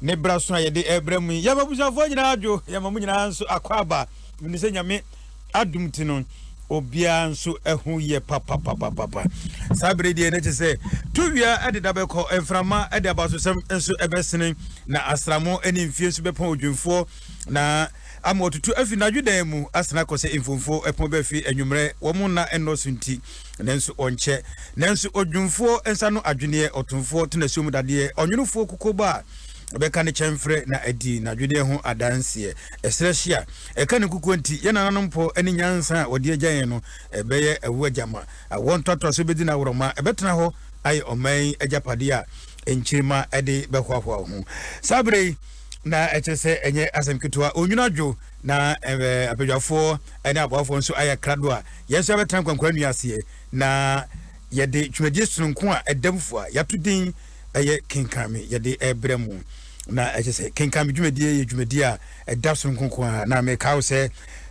Ne bra so a yɛde ɛbra mu yi yɛma abusuafoɔ nyinaa adwo yɛma mo nyinaa nso akɔ aba mene sɛ nyame adom ti no obiara nso ɛho yɛ papapapapa saa bere deɛ ne kye sɛ towia ɛde da bɛkɔ mframa ɛde abasosɛm nso ɛbɛsene na asramo ɛne mfie nso bɛpɔn odwemfoɔ na ama ɔtutu afi nadwo dan mu asena kɔ sɛ mfomfoɔ ɛpɔn bɛfi anwummerɛ wɔn nna ɛnnɔso nti Nanso ɔnkyɛ. Nanso odwumfoɔ nsa ano adweneɛ, ɔtomfoɔ tenasuo mu dadeɛ, ɔnwonofoɔ kukobɔ a ɔbɛka ne kyɛmferɛ na adi n'adweneɛ ho adanseɛ. Ɛserɛ hye a ɛka ne nkukuo nti, yɛn nananom pɔ ne nyansa a wɔde agya yɛn no. Ɛbɛyɛ ɛwoɔ gyama. Awoɔ ntoatoasoɔ bɛdi no aworɔma. Ɛbɛtena hɔ ayɛ ɔman yi agyapadeɛ a nkyirimma de bɛhoahoa ho. Saa berɛ yi na ɛkyerɛ sɛ ɛnyɛ asɛm ketewa. Onwunu adwo. na ɛɛ abadwafoɔ ne aboafoɔ nso ayɛ krado a yɛn nso yɛbɛtena nkwankwa nnua aseɛ na yɛde dwumadie sononko a ɛda mu fo a yɛato din ɛyɛ kenkan me yɛde ɛbrɛ mu na ɛkyɛ sɛ kenkan me dwumadie yɛ dwumadie a ɛda sononko ko a na meka wo sɛ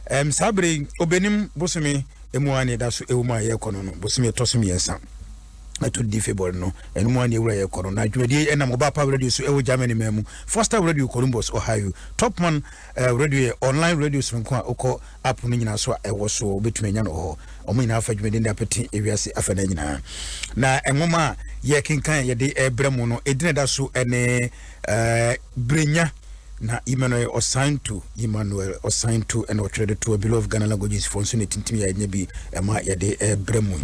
ɛm saa bere obɛnim bosome ɛmu a ne ɛda so ɛwɔ mu a yɛrekɔ no no bosome ɛtɔ so mmiɛnsa ɛto di february no ɛno mu a ne ɛwura yɛrekɔ no na dwumadie ɛnam ɔba pa radio so ɛwɔ germany ma mu foster radio columbus ohio topman Eh, radio yɛ online radio soronko a wokɔ app no nyinaa so a ɛwɔ so wobɛtumi anya no wɔ hɔ ɔmo nyinaa fa dwumadin de apete ewiase afa no nyinaa na nwoma a yɛkenkan yɛde ɛbrɛ mu no ɛdina da so ɛne eh, berenya na Emmanuel Osantu Emmanuel Osantu ɛna ɔtwerɛ de toa below of Ghana languages fo nso na ɛtintim yɛ ɛnyɛ bi ɛma yɛde ɛbrɛ mu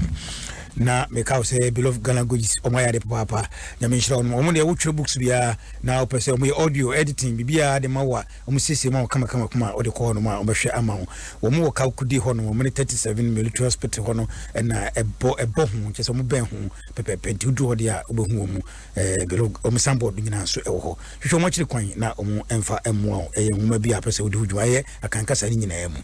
na meka wo sɛ below of Ghana languages ɔmo ayɛ ade papaapa nyame nhyira ɔnom ɔmo deɛ wotwerɛ books biara na ɔpɛ sɛ wɔyɛ audio editing biribiara de ma wo a, wɔsiesie ma wo kamakama kuma a wode kɔ hɔnom a wɔbɛhwɛ ama wo. Wɔn wɔ Kawukudi hɔ no, wɔn ne thirty seven Military Hospital hɔ no na ɛbɔ ɛbɔ ho, kyerɛ sɛ wɔn bɛn ho pɛpɛɛpɛ nti woduru hɔ deɛ a wobɛhu wɔn ɛɛ belo wɔn sanbɔɔd nyinaa nso ɛwɔ hɔ. Hwehwɛ wɔn akyiri kwan na wɔn mfa mmoa wo. Ɛyɛ nwoma bi a pɛ sɛ wode ho dwuma ɛyɛ akankasa ne nyinaa mu.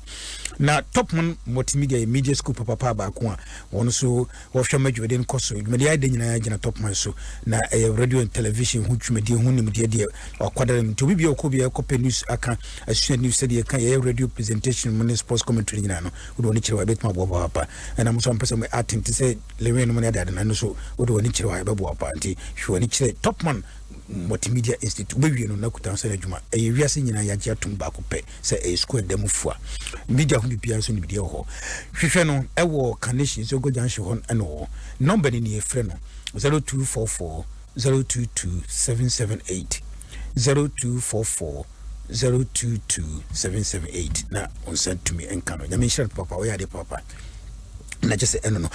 Na Top Man Multimedia yɛ media school papapaa baako a wɔn nso Wɔhwɛ ma dwumadi no kɔ so. Dwumadi a ɛda nyinaa gyina tɔpon so, na ɛyɛ radio ne television ho dwumadi ho nimdeɛ deɛ wɔakwadare no. Nti obi biara ɔkɔ biara kɔpɛ news aka, asua news sɛdeɛ ɛka yɛyɛ radio presentation mu ne sports commentary nyinaa no, wode w'ani kyerɛ hɔ a ɛbɛtumi aboa wo papa. Ɛna mo nso a mpɛ sɛ mo acting te sɛ Lewin nom ne ade ade no, ɛno nso wode w'ani kyerɛ hɔ a ɛbɛboa wo paa. Nti hwɛ w'ani kyerɛ Topman Multimedia Institute. Wobɛwie no na kuta ho sɛ adwuma. Ɛyɛ wiase nyinaa yɛagye atom baako pɛ. sɛ ɛyɛ sukuu ɛda mu fua media ho biribiara nso nimdeɛ wɔ hɔ hwehwɛ no ɛwɔ carnation nso go junction hɔ ɛna wɔ nɔmba no nie frɛ no 0244 022 778 0244 022 778 na ɔnsa tumi nka no nyame nhyira no papa ɔyɛ adeɛ papa na kyɛ sɛ ɛno no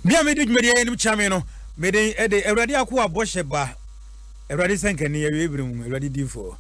bia mede dwumadi ɛyɛ nom kyame no mede ɛde awurade ako abɔhyɛ ba awurade sɛ nkani awie bere mu awurade difoɔ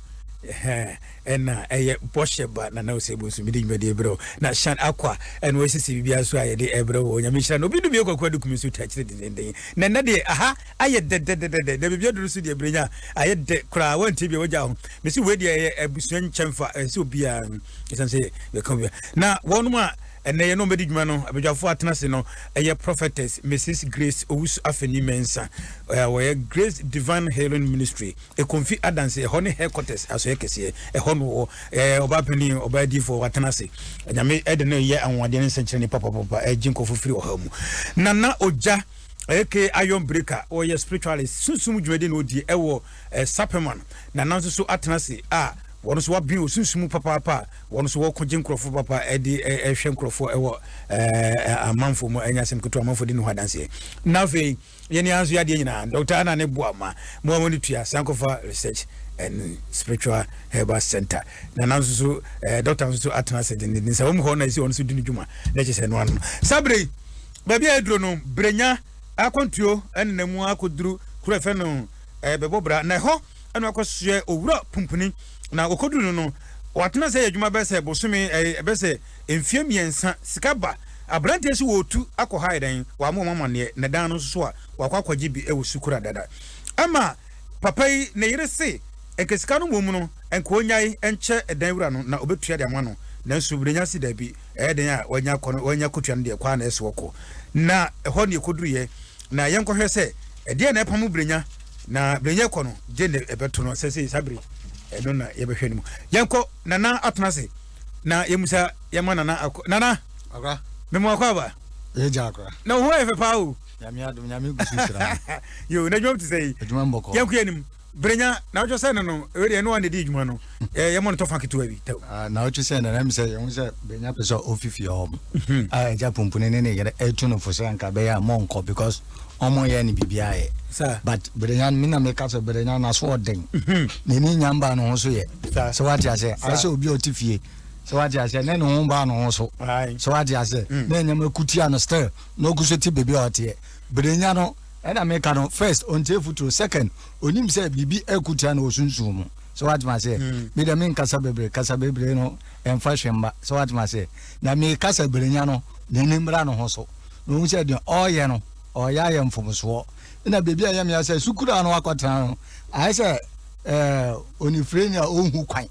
Ɛna ɛyɛ bɔhyɛ ba Nana Osebo nso mede dwumadie brɛ wo na Shan Akwa ɛna ɔresisi biribiara nso a yɛde ɛbrɛ wo Onyame nhyira no obi no bio Kwaku Adukum nso twa akyire dendenden na ɛnɛ deɛ aha ayɛ dɛdɛdɛdɛdɛ na baabi aduru nso deɛ Brenya ayɛ dɛ koraa woantie bia wagya ho mese wei deɛ ɛyɛ abusua nkyɛmfa ɛnsɛ obiara ɛsiane sɛ yɛka obia na wɔnom a ɛnɛ yɛ na ɔmbɛdi dwuma no abadwafoɔ atena ase no ɛyɛ Prophetess Mrs Grace Owusu Afeni Mensah wɔyɛ Grace Divine Healing Ministry Ekomfi adanse, ɛhɔ ne headquarters asɔɛ kɛseɛ, ɛhɔ no wɔ ɛɛ ɔbaa panin, ɔbaa adiifoɔ watena ase. Nyame ɛde no yɛ anwanwadeɛ ne nsɛnkyerɛnne papapapa ɛregye nkurɔfo firi ɔhaw mu. Nana Ogya aka Iron Breaker ɔyɛ spiritualist, sunsum dwumadi na ɔdie ɛwɔ ɛɛ Sapperman. Nana nso so atena ase a wɔn nso wɔabene wɔ sunsum mu papaapa a wɔn nso wɔko gye nkurɔfo papa ɛde ɛhwɛ nkurɔfoɔ ɛwɔ ɛɛ amanfoɔ mu ɛnyɛ asɛm ketewa amanfoɔ de ne ho adanseɛ. Na afei. Yɛn ni ara nso yɛ adeɛ nyinaa. Doctor Anna ne boa ma mo a mo ani tua Sankofa Research and Spiritual Herbal Center. Na na nso so eh, doctor nso so atena ase dendenden sɛ wɔn hɔ na ɛsɛ wɔn nso di ne dwuma na ɛkyɛ sɛ ɛno ano. Saa bere yi, baabi a ɛduro no, Brenya akwantuo ɛne na mu akɔduru kuro ɛfɛ no eh, bɛbɔ bra na ɛhɔ ɛna wakɔsoɛ owura pumpuni na wɔkɔduru no no wɔatena sɛ yɛ adwuma bɛsɛ bosome eh, bɛsɛ mfeɛ mmiɛnsa sika ba abranteɛ so wɔtu akɔ ha ayɛdɛn wɔama wɔn amaneɛ na dan no nso a wakɔ akɔgye bi wɔ sukura dada ɛma papa yi ne yere se nka sika no mmom no nka ɔnyae nkyɛ dan wura no na ɔbɛtua de ama no nanso berenya se daabi ɛyɛ den a wanya akɔ no wanya kɔtua no deɛ kwaa na ɛsɛ wɔkɔ na ɛhɔ ne ɛkɔduruyɛ na yɛnkɔhwɛ sɛ ɛdeɛ na ɛpamo berenya na berenya kɔ no gye ne ɛbɛto no sɛ sɛ saa bere ɛno na yɛbɛhwɛ no mu yɛnkɔ nana atena se na yɛmusa yɛma nana akɔ nana akora memo akɔ aba ɛyɛ gya akora na wo ho ayɛ fɛ paa o nyame adom nyame gu so hyira yo na adwuma te sɛ yi adwuma mbɔkɔ yɛnko yɛnim berenya na wotwe sɛ no no ɛwɛ deɛ ɛno wa na ɛdi adwuma no yɛmɔ no tɔfa ketewa bi tɛw ah, na wotwe sɛ no na ɛm sɛ yɛho sɛ berenya pɛ sɛ ɔfifie hɔ m mhm. a ah, agya pumpuni ne ne yere ɛtu no fo sɛ anka bɛyɛ a mɔnkɔ because ɔmo yɛ no biribiara yɛ but Brenya no me na meka sɛ Brenya no aso ɔden mhm. n'ani nya mbaa ne ho so yɛ sɛ wate aseɛ ayɛ sɛ obi a ɔte fie sɛ wate aseɛ ne ne ho mbaa ne ho so sɛ wate aseɛ mm. na nneɛma kutia no still na ɔgu so te baabi a ɔteɛ Brenya no ɛna meka no first ɔntie futuro second onim sɛ biribi akutia no ɔsunsun mu sɛ wate ma seɛ mm. me dɛ menkasa bebree kasa bebree no ɛmfa hwɛ mba sɛ wate ma seɛ na mekasa Brenya no n'ani mmra ne ho so na ohu sɛ deɛ ɔreyɛ no, ɔreyɛ ayɛ mfomsoɔ. Ɛna baabi a ɛyɛ me ya sɛ sukuraa no akɔtena no, ayɛ sɛ ɛɛ onifirani a ɔnhu kwan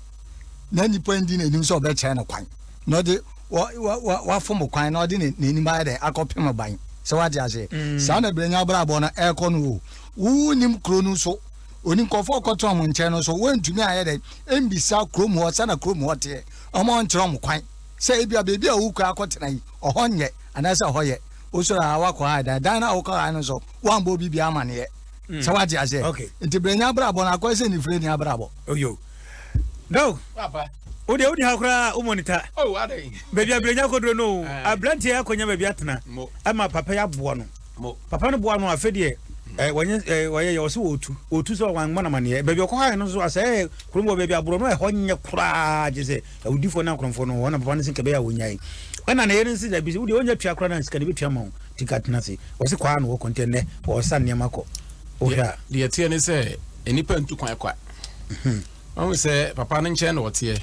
na nipa ndi n'anim sɛ ɔbɛkyerɛ no kwan na ɔde wa wa wa wafom kwan na ɔde n'anim ayɛ dɛ akɔpem ban sɛ wate aseɛ. Mm. Saa na brɛnya abrabɔ no ɛrekɔ no o. Wonim kuro no so oni nkurɔfoɔ ɔkɔtena wɔn nkyɛn no so wɔntumi ayɛ dɛ mbisa kurom hɔ sɛ na kurom hɔ teɛ ɔmo nkyerɛ ɔmo kwan sɛ ebi a beebi a wokura akɔtena yi ɔhɔ nyɛ anaasɛ hɔ yɛ wosɔre a wakɔ ha dan dan no a wokɔ ha no so woambɔ obi bia amaneɛ hmm. sɛ wate aseɛ nti berɛ nya abrabɔ no akɔɛ sɛ nifire ni abrabɔ oyo dao wodeɛ wodi ha koraa wo mɔnita oh, baabi a berɛ nya kɔduro no ah. aberanteɛ akɔnya baabi atena ɛma papa yi aboa no papa no boa no afɛ deɛ Eh, wɔnyɛ eh, wɔyɛ yɛ ɔsɛ wɔtu wɔtu sɛ wɔn amanamaneɛ baabi ɔkɔ ha no so asɛ eh, kurom wɔ baabi aborɔ no ɛhɔ nyɛ koraa gye sɛ Awudifoɔ ne akorɔmfoɔ no, wɔn na papa no se nka ɛbɛyɛ a wɔnyae. Ɛna ne yere no se dabi, se wodeɛ wonya tua koraa no a sika no bɛtua ma wo, nti nka tena ase. Ɔse kwaa na wɔkɔ, nti ɛnnɛ wɔresa nneɛma kɔ. Wohwɛ a. Deɛ ɛteɛ ne sɛ nnipa ntu kwan kwa. Wahu sɛ papa no nkyɛn na ɔteɛ,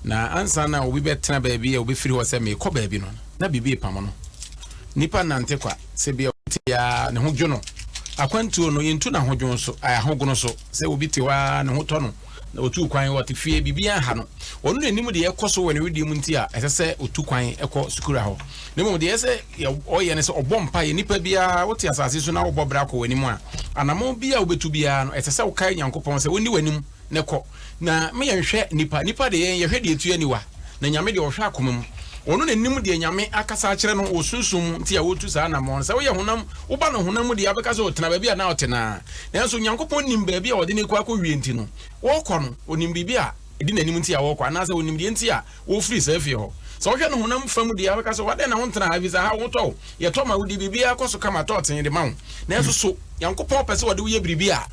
na ansa na obi bɛtena baabi a ɔbɛfiri hɔ sɛ merekɔ baabi no, na biribi repam no. Nnipa nnante kwa, sɛ bia obi te ara ne ho dwo no. Akwantuo no, yɛntu no ahodwono so, ae, ahogono so, sɛ obi te hɔ ara ne ho tɔ no, na otuu kwan, ɔte fie, biribiara nha no. Ɔno na nim deɛ ɛkɔ so wɔ ne wedeɛ mu nti a ɛsɛ sɛ ɔtu kwan kɔ sukura hɔ. Na mmom deɛ ɛsɛ sɛ ɔyɛ ne sɛ ɔbɔ mpaeɛ. Nnipa biara, wote asase so na wobɔ bra kɔ w'anim a, anammɔn bi a wobɛtu biara no, ɛsɛ sɛ wokae Nyankopɔn sɛ ɔnni w'anim na kɔ. Na ma yɛnhwɛ nnipa. Nnipa deɛ, yɛn yɛhwɛ deɛ ɛtu yɛn aniwa. Na Nyame deɛ, ɔhwɛ akoma mu. Ɔno na nim deɛ Nyame akasa akyerɛ no wɔ sunsum mu nti a ɔretu saa anammɔn no. Sɛ woyɛ honam, woba no honam mu deɛ a, wobɛka sɛ ɔtena baabi a na ɔte no ara. Nanso Onyankopɔn nim baabi a wɔde no rekɔ akɔwie nti no, wɔrekɔ no, onim biribi a edi n'anim nti a wɔrekɔ, anaasɛ onim deɛ nti a wɔrefiri saa fie hɔ. Sɛ wohwɛ no honam fam deɛ a, wobɛka sɛ, Adɛn na wontena ha, efisɛ ha wotɔ o, yɛtɔ ma wo, di, biribiara kɔ so kama, tɔ tee de ma wo. Nanso so Nyankopɔn pɛ sɛ ɔde wo yɛ biribi a?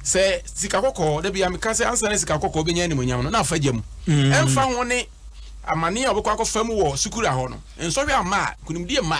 Sɛ sika kɔkɔɔ, da biara meka sɛ, ansa na sika kɔkɔɔ bɛnya animuonyam no, na fa gya mu. Ɛmfa ho ne amane a wobɛkɔ akɔfa mu wɔ sukura hɔ no, nsɔhwɛ amma a, nkonimdie mma.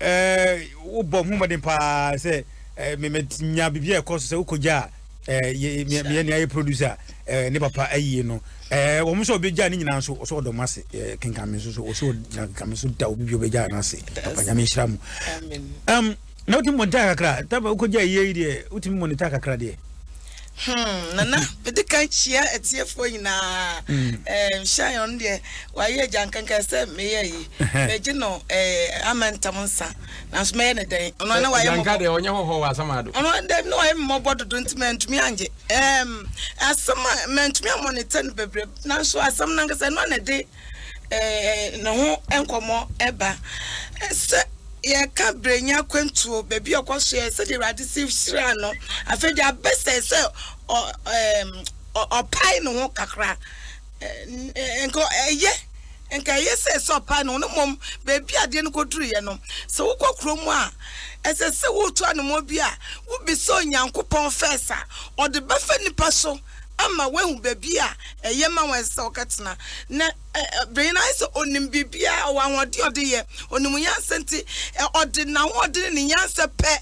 wobɔ ho mmɔden paa sɛ menya biribi a ɛkɔ so sɛ wokɔgya a meyɛ nea yɛ producer ne papa ayie no wɔn nso ɔbɛgya ne nyinaa nso ɔsɛ ɔdɔm ase kenka me nso so ɔsɛ ɔgyina kenka me nso da obi bi ɔbɛgya no ase papa nyame nhyira mu na wotumi mɔnita kakra taba wokɔgya yie yi deɛ wotumi mɔnita kakra deɛ Hmm, Nana, mede kan kyia atiefoɔ nyinaa. Hmm. Hyɛn ɔno deɛ wayɛ agya nkankan sɛ meyɛ yi. Mɛgye no ama ntam nsa. Nanso mɛyɛ ne dɛn? Ɔno na wayɛ mmɔbɔ. deɛ ɔnyɛ hɔhɔ wɔ asɛm ado. Ɔno dɛm na wayɛ mmɔbɔ dodo nti mantumi angye. Asɛm a mantumi amonita no bebree nanso asɛm no ankasa ɛno na ɛde ɛɛ ne ho nkɔmmɔ ba. Sɛ yɛka Brenya akwantuo, baabi a ɔkɔsoɛɛ, sɛdeɛ Awurade si hyiraa no, afei deɛ abɛ sɛ sɛ ɔ ɛɛm ɔ ɔpae ne ho kakra. Ɛɛ nka ɛyɛ nka ɛyɛ sɛ sɛ ɔpae ne ho no mmom baabi a adeɛ no kɔduruiɛ no, sɛ wokɔ kurom a, ɛsɛ sɛ woretu anamɔ bi a, wobisa Onyankopɔn first a, ɔde bɛfa nipa so. ama wahu baabi a ɛyɛ ma wɔn ɛsɛ sɛ wɔkɔtena. Na bere no ayɛ sɛ onim biribiara, ɔwɔ ahoɔden a ɔde yɛ, onim nyansa nti, ɔde n'ahoɔden ne ne nyansa pɛ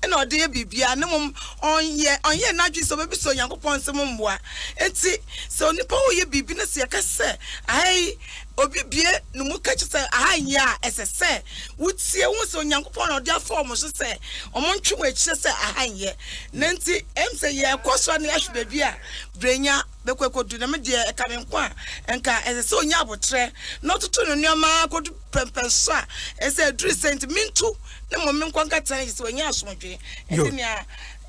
na ɔde yɛ biribiara, na mmom ɔnyɛ, ɔnyɛɛ n'adwene sɛ obebisa Onyankopɔn nsɛm ho mmoa. Enti sɛ onipa reyɛ biribi na sɛ yɛka sɛ aha yi obi bue ne mu ka kyerɛ sɛ aha nyɛ a, ɛsɛ sɛ wotie, wohu sɛ Onyankopɔn na ɔde afa wɔn so sɛ wɔntwe wɔn akyi sɛ aha nyɛ. Na nti em sɛ yɛɛkɔ soro ne yɛahwe baabi a Brenya bɛkɔ ɛkɔdu, na me deɛ ɛka me nko a, nka ɛsɛ sɛ ɔnya abotrɛ na ɔtoto ne nnoɔma ara kɔdu pɛmpɛnso a ɛsɛ aduru sɛ nti mentu ne mmom menkɔ nka tena agye sɛ wanya asomdwoe Yo. ɛte nea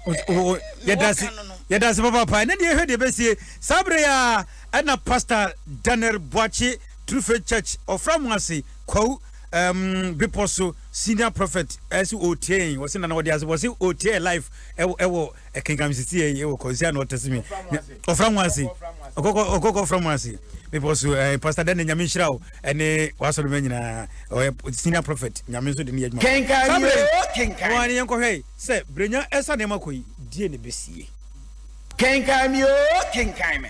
O- o- o- eh, yɛda mewɔ ase ka no no. yɛda ase papaapa ɛnɛ deɛ yɛhwɛ deɛ ɛbɛsie saa berɛ yi a ɛna pastor daniel boakye true faith church ɔfra mu ase kwawu um bepɔ so senior prophet ɛsi otie yɛn wɔsi nana wɔde ase wɔsi otie yɛ life ɛwɔ ɛwɔ ɛkenkan sisi yɛ ɛwɔ kɔnsi ano ɔtɛsi mi ɔfra mu ase ɔkɔkɔ ɔkɔkɔ ɔfra mu ase bepɔ so ɛɛ pastor dɛn ne nyame nhyira o ɛne wasɔrɔ mɛ nyinaa ɔyɛ senior prophet nyame nso de ne yɛ adwuma kenkan family kenkan wɔn ani yɛn kɔhwɛ yi sɛ brenya ɛsa nneɛma kɔ yi die ne besie kenkan mi o kenkan mi.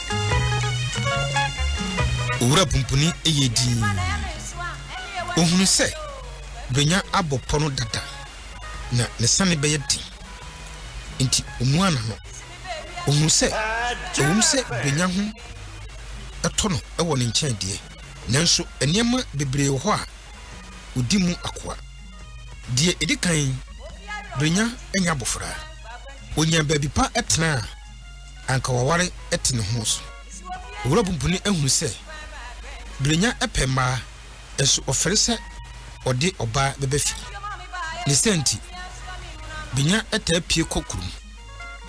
Owura Pumpuni yɛɛ dinn. Ɔhunuu sɛ Brenya abɔ pɔ no dada, na ne sane bɛyɛ den. Enti ɔmuaa n'ano. Ɔhunuu sɛ ɛwom sɛ Brenya ho tɔ no wɔ ne nkyɛn deɛ, nanso nneɛma bebree wɔ hɔ a ɔdi mu akoa. Deɛ ɛdi kan, Brenya nyɛ abofra. Ɔnyaa baabi pa tenaa. anka waware te ne ho so. Owura Pumpuni ahunu sɛ Brenya pɛ mmaa, nso ɔfɛre sɛ ɔde ɔbaa bɛba fie. Ne saa nti, Brenya taa pue kɔ kurom.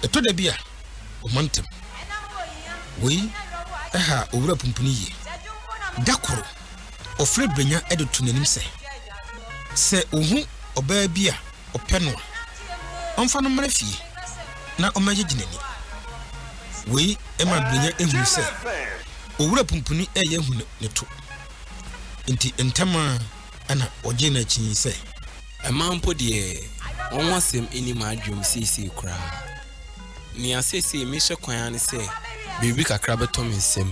Ɛtɔ da bi a, wɔmantam. Wei ha Owura Pumpuni yie. Da koro, ɔfrɛ Brenya de to n'anim sɛ, Sɛ wuhu ɔbaa bi a, ɔpɛ no a, ɔmfa no mmra fie na ɔmmɛgyegye n'ani. Wei ma Brenya hu sɛ Owura Pumpuni reyɛ ahu ne to, nti ntɛm ara na ɔgyee no akyi sɛ. Mmaa mpo deɛ, wɔn ho asɛm nni m'adwenem seesei koraa. Nea seesei mehwɛ kwan ara ne sɛ biribi kakra bɛtɔ me nsam,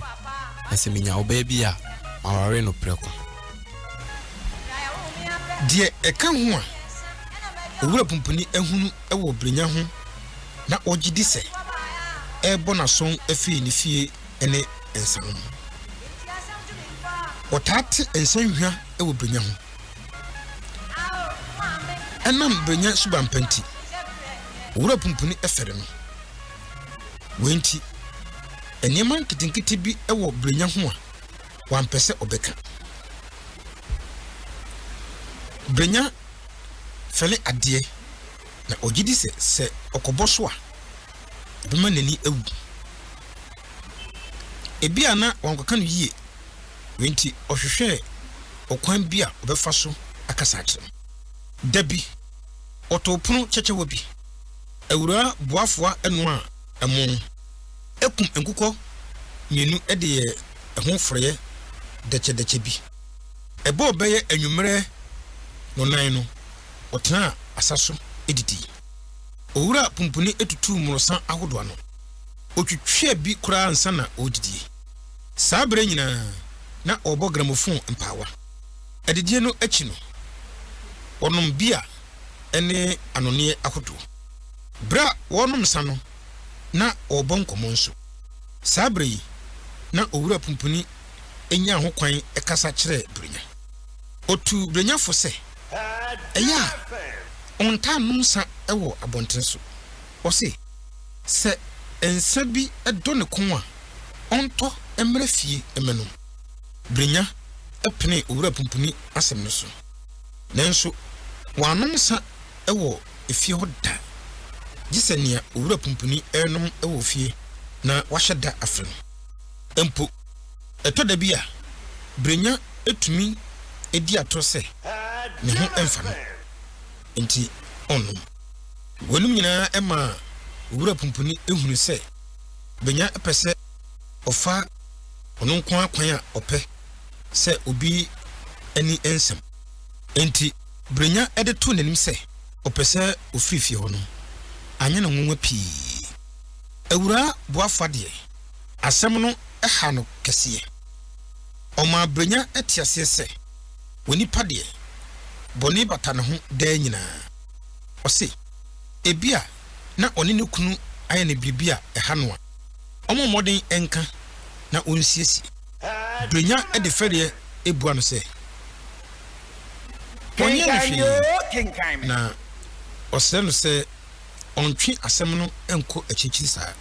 na sɛ menya ɔbaa bi a, maware no prɛko. Deɛ ɛka ho a, Owura Pumpuni ahunu wɔ Brenya ho na ɔgye di sɛ ɛrebɔ no aso firi ne fie ne nsa ho. Wɔtaa te nsa nhwa wɔ Brenya ho. Ɛnam Brenya suban pa nti, Owura Pumpuni fɛre no. Wei nti, nneɛma nketenkete bi wɔ Brenya ho a, wampɛ sɛ ɔbɛka. Brenya fɛle adeɛ, na ɔgye di sɛ sɛ ɔkɔbɔ so a, ɛbɛma n'ani awu. Ebia na wankɔka no yie, wei nti ɔhwehwɛɛ ɔkwan bi a ɔbɛfa so akasa akyerɛ me. Da bi, ɔtoo pono kyɛkyɛwa bi. Awuraa Boafoa noaa ɛmo. Kum nkokɔ mmienu de yɛ ɛho forɔeɛ dɛkyɛdɛkyɛ bi. Ɛbɔɔ bɛyɛ anwummerɛ nnonan no, wɔtenaa asa so didii. Owura Pumpuni tutuu mmorɔsa ahodoɔ ano. Ɔtwitwaa bi koraa ansa na ɔredidie. Saa berɛ nyinaa, na ɔrebɔ gramofon mpaawa. Adidie no akyi no, wɔnom bia ne anonneɛ ahodoɔ. Berɛ a wɔrenom nsa no, na wɔrebɔ nkɔmmɔ nso. Saa bere yi, na Owura Pumpuni nyaa hokwan kasa kyerɛɛ Brenya. Otuu Brenya fo sɛ, ɛyɛ a ɔntaa nnom nsã wɔ abɔnten so. Ɔse, sɛ nsã bi dɔ ne kɔn a, ɔntɔ mmra fie mmɛnom. Brenya penee Owura Pumpuni asɛm no so, nanso wannom nsã wɔ. efie hɔ da, gye sɛ nea owura pumpuni renom wɔ fie na wahyɛ da afrɛ no. Mpo, ɛtɔ da bi a, Brenya tumi di atoro sɛ ne ho mfa no nti ɔnnom. Weinom nyinaa maa owura pumpuni hunu sɛ Brenya pɛ sɛ ɔfa ɔno nko ara kwan a ɔpɛ sɛ obi ani nsam. Enti, Brenya de too n'anim sɛ ɔpɛ sɛ ɔfiri fie hɔ no, anyɛ no nwonwa pii. Awuraa Boafo deɛ, asɛm no haa no kɛseɛ. Ɔmaa Brenya te aseɛ sɛ, onipa deɛ, bɔne bata ne ho daa nyinaa. Ɔse, ebia na ɔne ne kunu ayɛ no biribi a ɛha no a, ɔmmɔ mmɔden nka na ɔnsiesie. Brenya de fɛreɛ bua no sɛ, ɔnyɛ no hwee, na ɔsrɛ no sɛ ɔntwe asɛm no nkɔ akyirikyiri saa.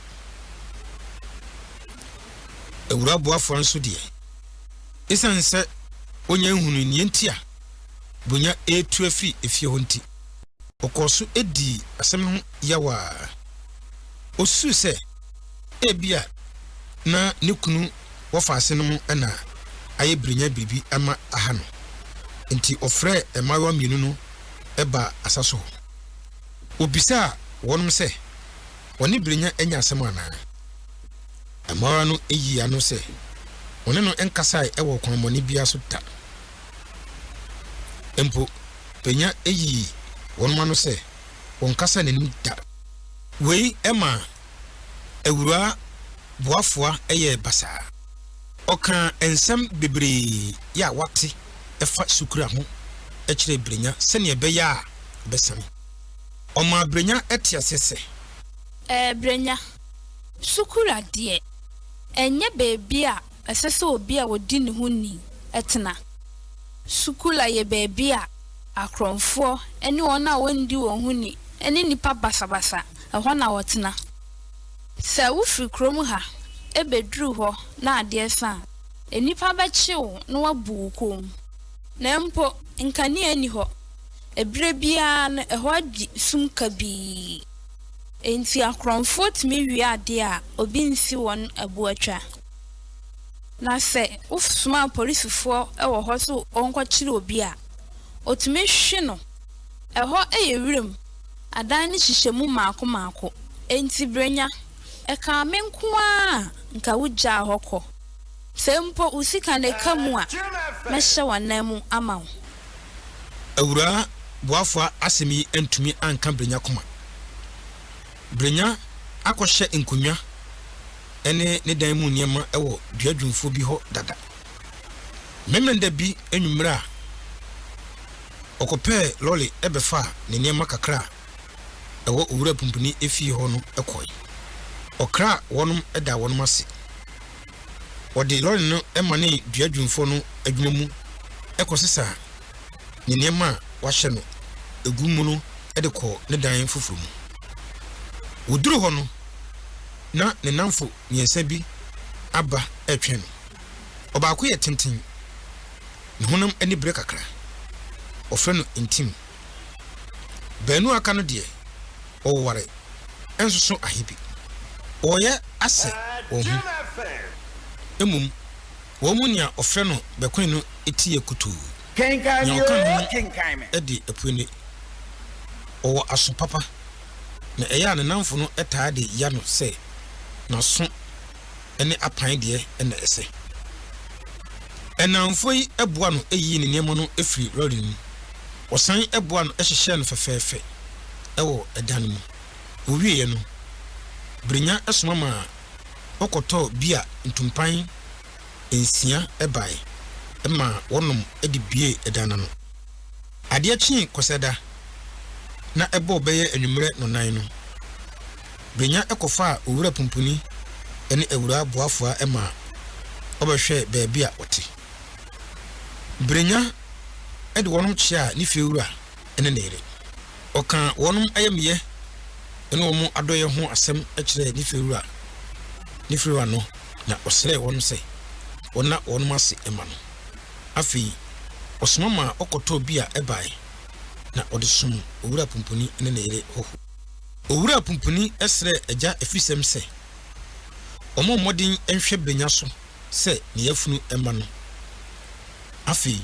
Awuraa Boafua nso deɛ, esiane sɛ onnya nhunuu nea enti a Bunya retu afi efie hɔ nti, ɔkɔɔ so dii asɛm no ho yaw a osusuw sɛ ebia na ne kunu wɔfa ase no mu na ayɛ birinya biribi ama aha no. Enti wɔfrɛɛ mmaayewa mmienu no baa asa so hɔ. Wɔbisaa wɔnom sɛ, wɔne birinya anya asɛm anaa? Mmaayewa no yii ano sɛ, wɔne no nkasae wɔ ɔkwammɔne biara so da. Mpo, birinya yii wɔnom ano sɛ, wɔnkasaa n'anim da. Wei maa Awuraa Boafua yɛɛ basaa. Ɔkaa nsɛm bebree a wate fa Sukura ho kyerɛɛ Brenya sɛnea ɛbɛyɛ a ɔbɛsan. Ɔmaa Brenya tee aseɛ sɛ. Ɛɛ Brenya, Sukura deɛ, ɛnyɛ baabi a ɛsɛ sɛ obi a odi ne ho ni tena. Sukula yɛ baabi a akorɔmfoɔ ne wɔn a wɔndi wɔn ho ni ne nnipa basabasa, ɛhɔ na wɔtena. Sɛ wofiri kurom ha bɛduru hɔ na adeɛ sa a, nnipa bɛkye wo na wɔabu wo kɔn mu. Na mpo nkanea nni hɔ. Ɛberɛ biara no ɛhɔ adi sum kabii. Enti akorɔmfoɔ tumi wia adeɛ a obi nsi wɔn aboatwa. Na sɛ wosoma polisfoɔ wɔ hɔ so wɔnkɔkyere obi a, wɔtumi hwe no. Ɛhɔ yɛ wuram, adan no hyehyɛ mu mmaako mmaako. Enti Brenya, ɛkaa me nko ara a, nka wogyaa hɔ kɔ. Sɛ mpo wo sika na ɛka mu a, mɛhyɛ w'anan mu ama wo. Awuraa Boafo asɛm yi antumi anka Brenya koma. Brenya akɔhyɛ nkonnwa ne ne dan mu nneɛma wɔ duadwumfoɔ bi hɔ dada. Memenda bi anwummere a ɔkɔpɛɛ lɔre bɛfaa ne nneɛma kakra a ɛwɔ Owura Pumpuni efie hɔ no kɔe. Ɔkraa wɔnom daa wɔnom ase. Wɔde lɔre no manee duadwumfoɔ no adwuma mu kɔsesaa ne nneɛma a wɔahyɛ no agu mu no de kɔɔ ne dan foforo mu. Wɔduruu hɔ no, na ne nnamfo mmiɛnsa bi aba retwɛn no. Ɔbaako yɛ tenten, ne honam ani bere kakra. Wɔfrɛ no ntim. Baanu a aka no deɛ, wɔwoware nsoso ahe bi. Wɔyɛ asɛ wɔn ho mmom. Wɔn mu nea ɔfrɛ no bɛkoe no teɛ kutuu. Kenkan Nea ɔka ne kenkan me. ho de apue no, ɔwɔ aso papa, na ɛyɛ a ne nnamfo no taa de ya no sɛ n'aso ne apan deɛ na ɛsɛ. Nnamfo yi boa no yii ne nneɛma no firii lɔre no mu. Wɔsan boa no hyehyɛɛ no fɛfɛɛfɛ wɔ dan no mu. Wɔwieeɛ no, Birinya soma maa. ɔkɔtɔɔ bia ntumpan nsia bae maa wɔnom de buee dan no ano. Adeɛ kyee Kwasiada na ɛbɔɔ bɛyɛ anwummerɛ nnɔnnan no, Brenya kɔfaa Owura Pumpuni ne Awuraa Boafua maa wɔbɛhwɛɛ baabi a wɔte. Brenya de wɔnom kyeaa ne fiewura. ne ne yere. Ɔkaa wɔn ayamyɛ ne wɔn adɔeɛ ho asɛm kyerɛɛ Nifiriwura Nifiriwa no, na ɔsrɛɛ wɔn sɛ wɔnna wɔn ase mma no. Afei ɔsoma maa wɔkɔtɔɔ bia bae, na ɔde som Owura Pumpuni ne ne yere hɔho. Owura Pumpuni srɛɛ Agya Afisɛm sɛ ɔmmɔ mmɔden nhwɛ Benya so. sɛ ne yafunu mma no. Afei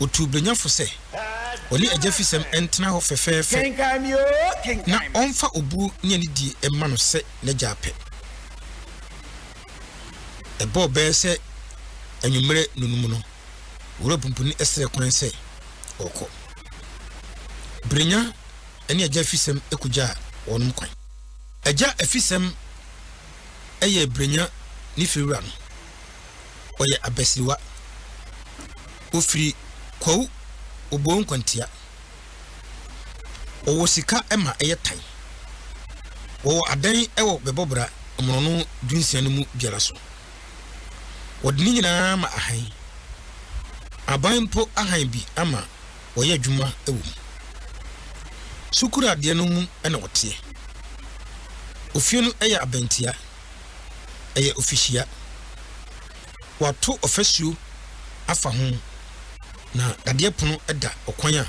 otuu Brenya fo sɛ ɔne agyafisɛm ntena hɔ fɛfɛɛfɛ na ɔmfa obuo ne anidie mma no sɛ n'agya apɛ. Ɛbɔɔ bɛyɛ sɛ anwummerɛ nnonum no, Owura Pumpuni srɛɛ kwan sɛ ɔrekɔ. Brenya ne Agya Afisɛm kogyaa wɔnom kwan. Agya Afisɛm. yɛ Brenya ne Fiwura no, ɔyɛ abasiriwa. Ɔfiri Kwawu Oboo Nkwantia. Ɔwɔ sika ma ɛyɛ tan. Wɔwɔ adan wɔ Bɛbɔbra mmorɔno dunsia no mu biara so. Wɔde ne nyinaa ma ahan. Aban mpo ahan bi ama wɔyɛ adwuma wɔ mu. Sukuuradeɛ no mu na wɔteɛ. Ofie no yɛ abɛntia. Ɛyɛ ofihyia. Wɔato ɔfasuo afa ho, na dadeɛ pono da ɔkwan a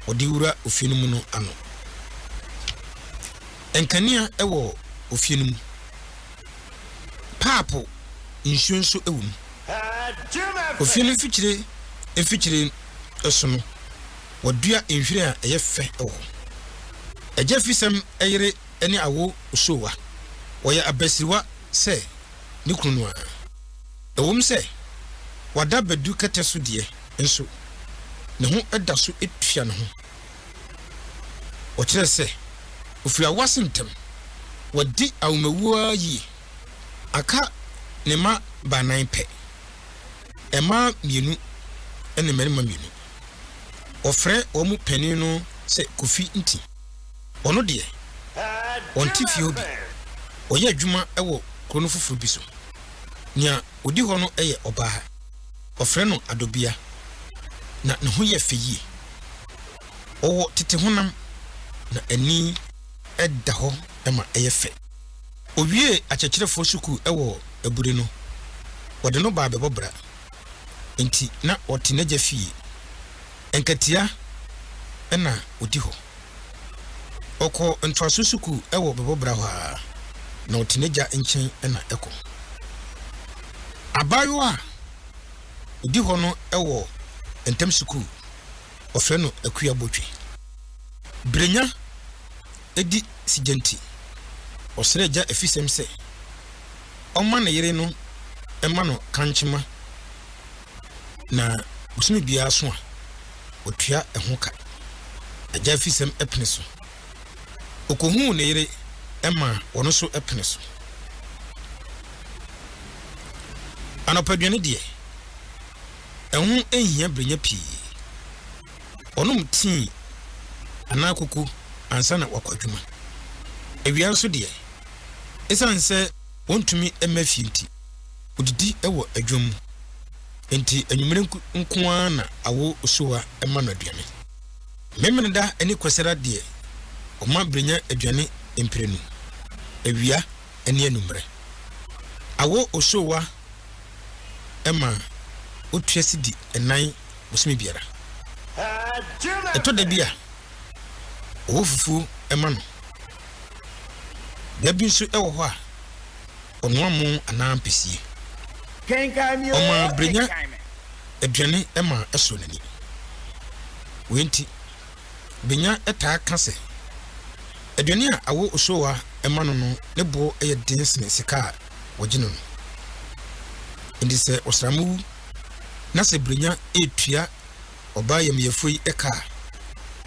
wɔde wura ofie no mu no ano. Nkanea wɔ ofie no mu. Paapo nsuo nso wɔ mu. Ofie no mfikyire mfikyire. so no, wɔadua nhwiren a ɛyɛ fɛ wɔ hɔ. Agya Fisɛm yere ne Awo Osowa. Wɔyɛ abasiriwa sɛ ne kunu no ara. Ɛwom sɛ wada badu kɛtɛ so deɛ nso, ne ho da so tua ne ho. Wɔkyerɛ sɛ ɔfiri awo ase ntɛm. Wadi awomawuo ara yie. Aka ne mma baanan pɛ. mmaa mmienu ne mmarima mmienu. Wɔfrɛ wɔn panin no sɛ Kofi Nti. Ɔno deɛ, ɔnte fie hɔ bi. Ɔyɛ adwuma wɔ kuro no foforo bi so. Nea ɔdi hɔ no yɛ ɔbaa. Wɔfrɛ no Adobia, na ne ho yɛ fɛ yie. Ɔwɔ tete honam, na ani da hɔ ma ɛyɛ fɛ. Owiee akyerɛkyerɛfoɔ sukuu wɔ Abure no, wɔde no baa bɛbɔ bra. Enti na ɔte n'agya fie. Nkatia na ɔdi hɔ. Ɔkɔɔ ntoaso sukuu wɔ bɛbɔ bra hɔ ara, na ɔte n'agya nkyɛn na ɛkɔ. Abaayewa a ɔdi hɔ no wɔ ntam sukuu, wɔfrɛ no Akua Botwe. Brenya. adi sigya nti, ɔsrɛɛ gya afisɛm sɛ ɔmma ne yere no mma no kankyema na bosome biara so a, watua ɛho ka. Agya afisɛm pene so. Ɔkɔhuu ne yere maa ɔno nso pene so. Anɔpaduane deɛ, ɛho nhia berenya pii. wɔnom tii anaa koko ansa na wɔakɔ adwuma. Awia nso deɛ, esiane sɛ wɔntumi mma fie nti, wɔdidi wɔ adwam mu. Enti anwummere nko ara na awo osuwa ma no aduane. Memeneda ne Kwasira deɛ, wɔma Brenya aduane mprenu, awia ne anwummere. Awo osuwa ma otua sidi nnan bosome biara. Ɛtɔ da bi a, ɔwɔ fufuo ma no. Da bi nso wɔ hɔ a, ɔnoa mo anaa ampesie. Ɔma berɛ nya aduane ma ɛsɔ n'ani. Wei nti, Benya taa ka sɛ, aduane a awɔ Osowa ma no no ne boɔ yɛ den sene sika a wɔgye no no. Enti sɛ ɔsram wu na sɛ Brenya retua ɔbaa yamyefo yi ka a,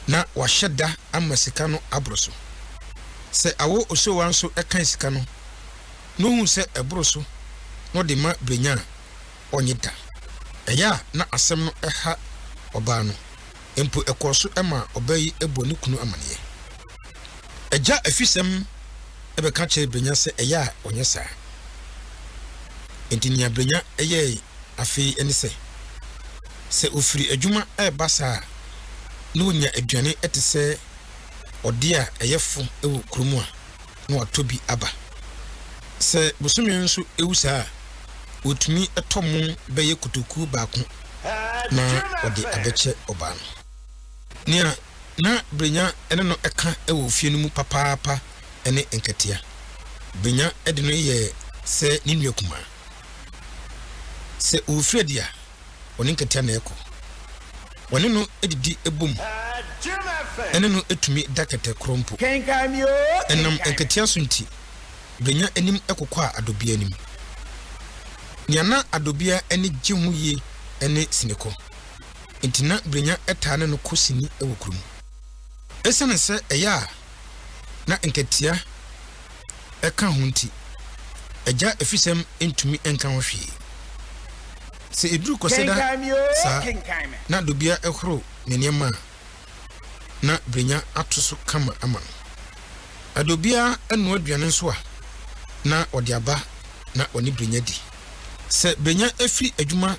na wahyɛ da ama sika no aboro so. Sɛ Awo Osowa nso kan sika no na ohu sɛ ɛboro so na ɔde ma Brenya a, ɔnnye da. Ɛyɛ a na asɛm no ha ɔbaa no. Mpo ɛkɔɔ so maa ɔbaa yi bɔɔ ne kunu amanneɛ. Agya afisɛm bɛka kyerɛɛ Brenya sɛ ɛyɛ a ɔnyɛ saa. Enti nea Brenya yɛe afei ne sɛ, sɛ ofiri adwuma reba saa a, na onya aduane te sɛ ɔde a ɛyɛ fo wɔ kurom a, na watɔ bi aba. Sɛ bosome nso ewu saa a, otumi tɔ mo bɛyɛ kotoku baako na ɔde abɛkyɛ ɔbaa no. Nea Ná Brenya ne no ka wɔ fie no mu papaapa ne nkatia. Brenya de no yɛ sɛ ne nua kumaa. Sɛ ɔrefiri adi a, ɔne nkatia na ɛkɔ. Wɔne no didi bom ne no tumi da kɛtɛ korɔ mpo. Ɛnam nkatia so nti, Brenya anim kokwaa Adobea anim. Nea na Adobea ani gye ho yie ne sinekɔ. enti na Brenya taa ne no kɔ sini wɔ kurom. Esiane sɛ ɛyɛ a na nkatia ka ho nti, agya afisɛm ntumi nka ho hwee. Sɛ eduru Kwasida saa na Dobia horo ne nneɛma a, na Brenya ato so kama ama no. Na Dobia noa aduane nso a, na ɔde aba na ɔne Brenya di. Sɛ Brenya fi adwuma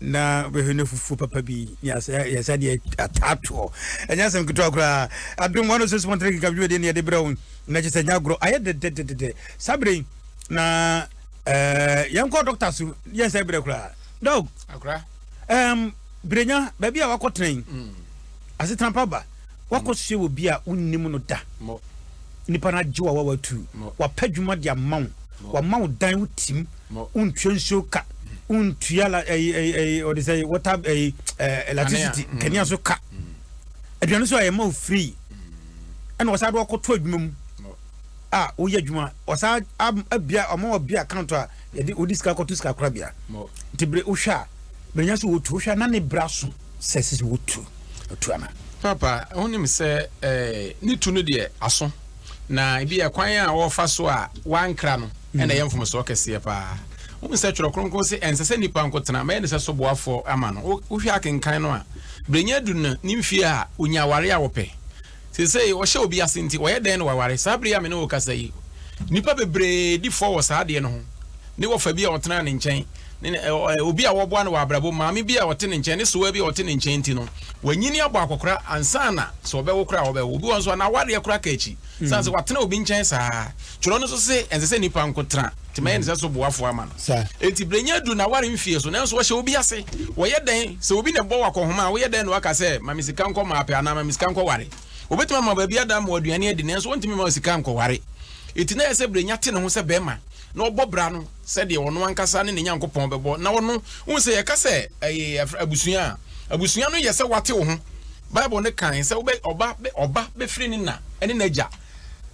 na wobɛhwɛ no fufuo papa bi ne yɛsa deɛ ataatoɔ ɛnyɛ asɛm ketewa koraa adom ɔno sɛ sumɔntere keka dwumadie ne yɛde berɛ wo na kyɛ sɛ nya agorɔ ayɛ dɛdɛdɛdɛdɛ saa berɛ yi na eh, yɛnkɔ dɔkta so yɛnsɛ berɛ koraa dɔg um, berɛnya baabi a wakɔtena yi mm. asetena pa ba wakɔsoɛ wɔ bi a wonnim no da nipa no agye wa wa watu wapɛ adwuma de ama wo wama wo dan wo tim mm. Ma wontua nsuo ka, wontua la ɛyi ɛyi ɛyi wɔde sɛ water ɛyi ɛɛ electricity mm. kanea so ka. Mm. Aduane so a yɛma wo free. Mm. Ɛna wɔsan de wɔkɔto adwuma mu a woyɛ adwuma wɔsan abia ɔmo wɔ bia account a yɛde wodi sika kɔto sika kora bia. Nti bere wohwɛ a berenya so wotu wohwɛ a na ne bra so sɛ sisi wotu otu ana. Papa wonim sɛ ɛɛ eh, ne tu no deɛ aso. Na ebia kwan a wɔfa so a wɔankra no na ɛyɛ mfomsoɔ kɛseɛ paa. Wohu sɛ Twerɛ Kronkron se ɛnsɛ sɛ nnipa nko tena, mɛyɛ ne sɛ soboafoɔ ama no. Wohwɛ akenkan no a, berɛnya du no ne mfeɛ a ɔnya aware a ɔpɛ. Seesei ɔhyɛ obi ase nti, ɔyɛ dɛn na waware? Saa berɛ yi a me ne wo rekasa yi, nnipa bebree di fɔ wɔ saa adeɛ no ho, ne wɔfa bi a ɔtenaa ne nkyɛn. Ne ne ɛ ɛ obi a wɔboa no wɔ abrabɔ mu, maame bi a ɔte ne nkyɛn, ne sewaa bi a ɔte ne nkyɛn nti no, wanyini abɔ akɔkora ansa na sɛ ɔbɛwo koraa a ɔbɛwo. Obi wɔ hɔ nso a n'awareɛ koraa ka akyi sane sɛ watena obi nkyɛn saa. Twerɛ no nso se ɛnsɛ sɛ nnipa nko tena, nti mɛyɛ no sɛ so boafoɔ ama no. Enti berɛ nyɛ aduru n'aware mfeɛ so nanso ɔhyɛ obi ase. Wɔyɛ dɛn? Sɛ obi na ɛbɔ wo akɔnhoma a, woyɛ dɛn na woaka sɛ, ma me sika nkɔ mapɛ anaa ma me sika nkɔware? Ɔbɛtumi ama wo baabi ada ama wo aduane adi nanso ɔntumi mma wo sika nkɔware. Enti na ɛyɛ sɛ berɛ nya te ne ho sɛ bɛrima. na ɔbɔ bra no sɛdeɛ ɔno ankasa ne ne Nyankopɔn bɛbɔ na ɔno wohu sɛ yɛka sɛ ɛyɛ abusua a abusua no yɛ sɛ wate wo ho Bible no kan sɛ wobɛ ɔba ɔba bɛfiri ne na ne n'agya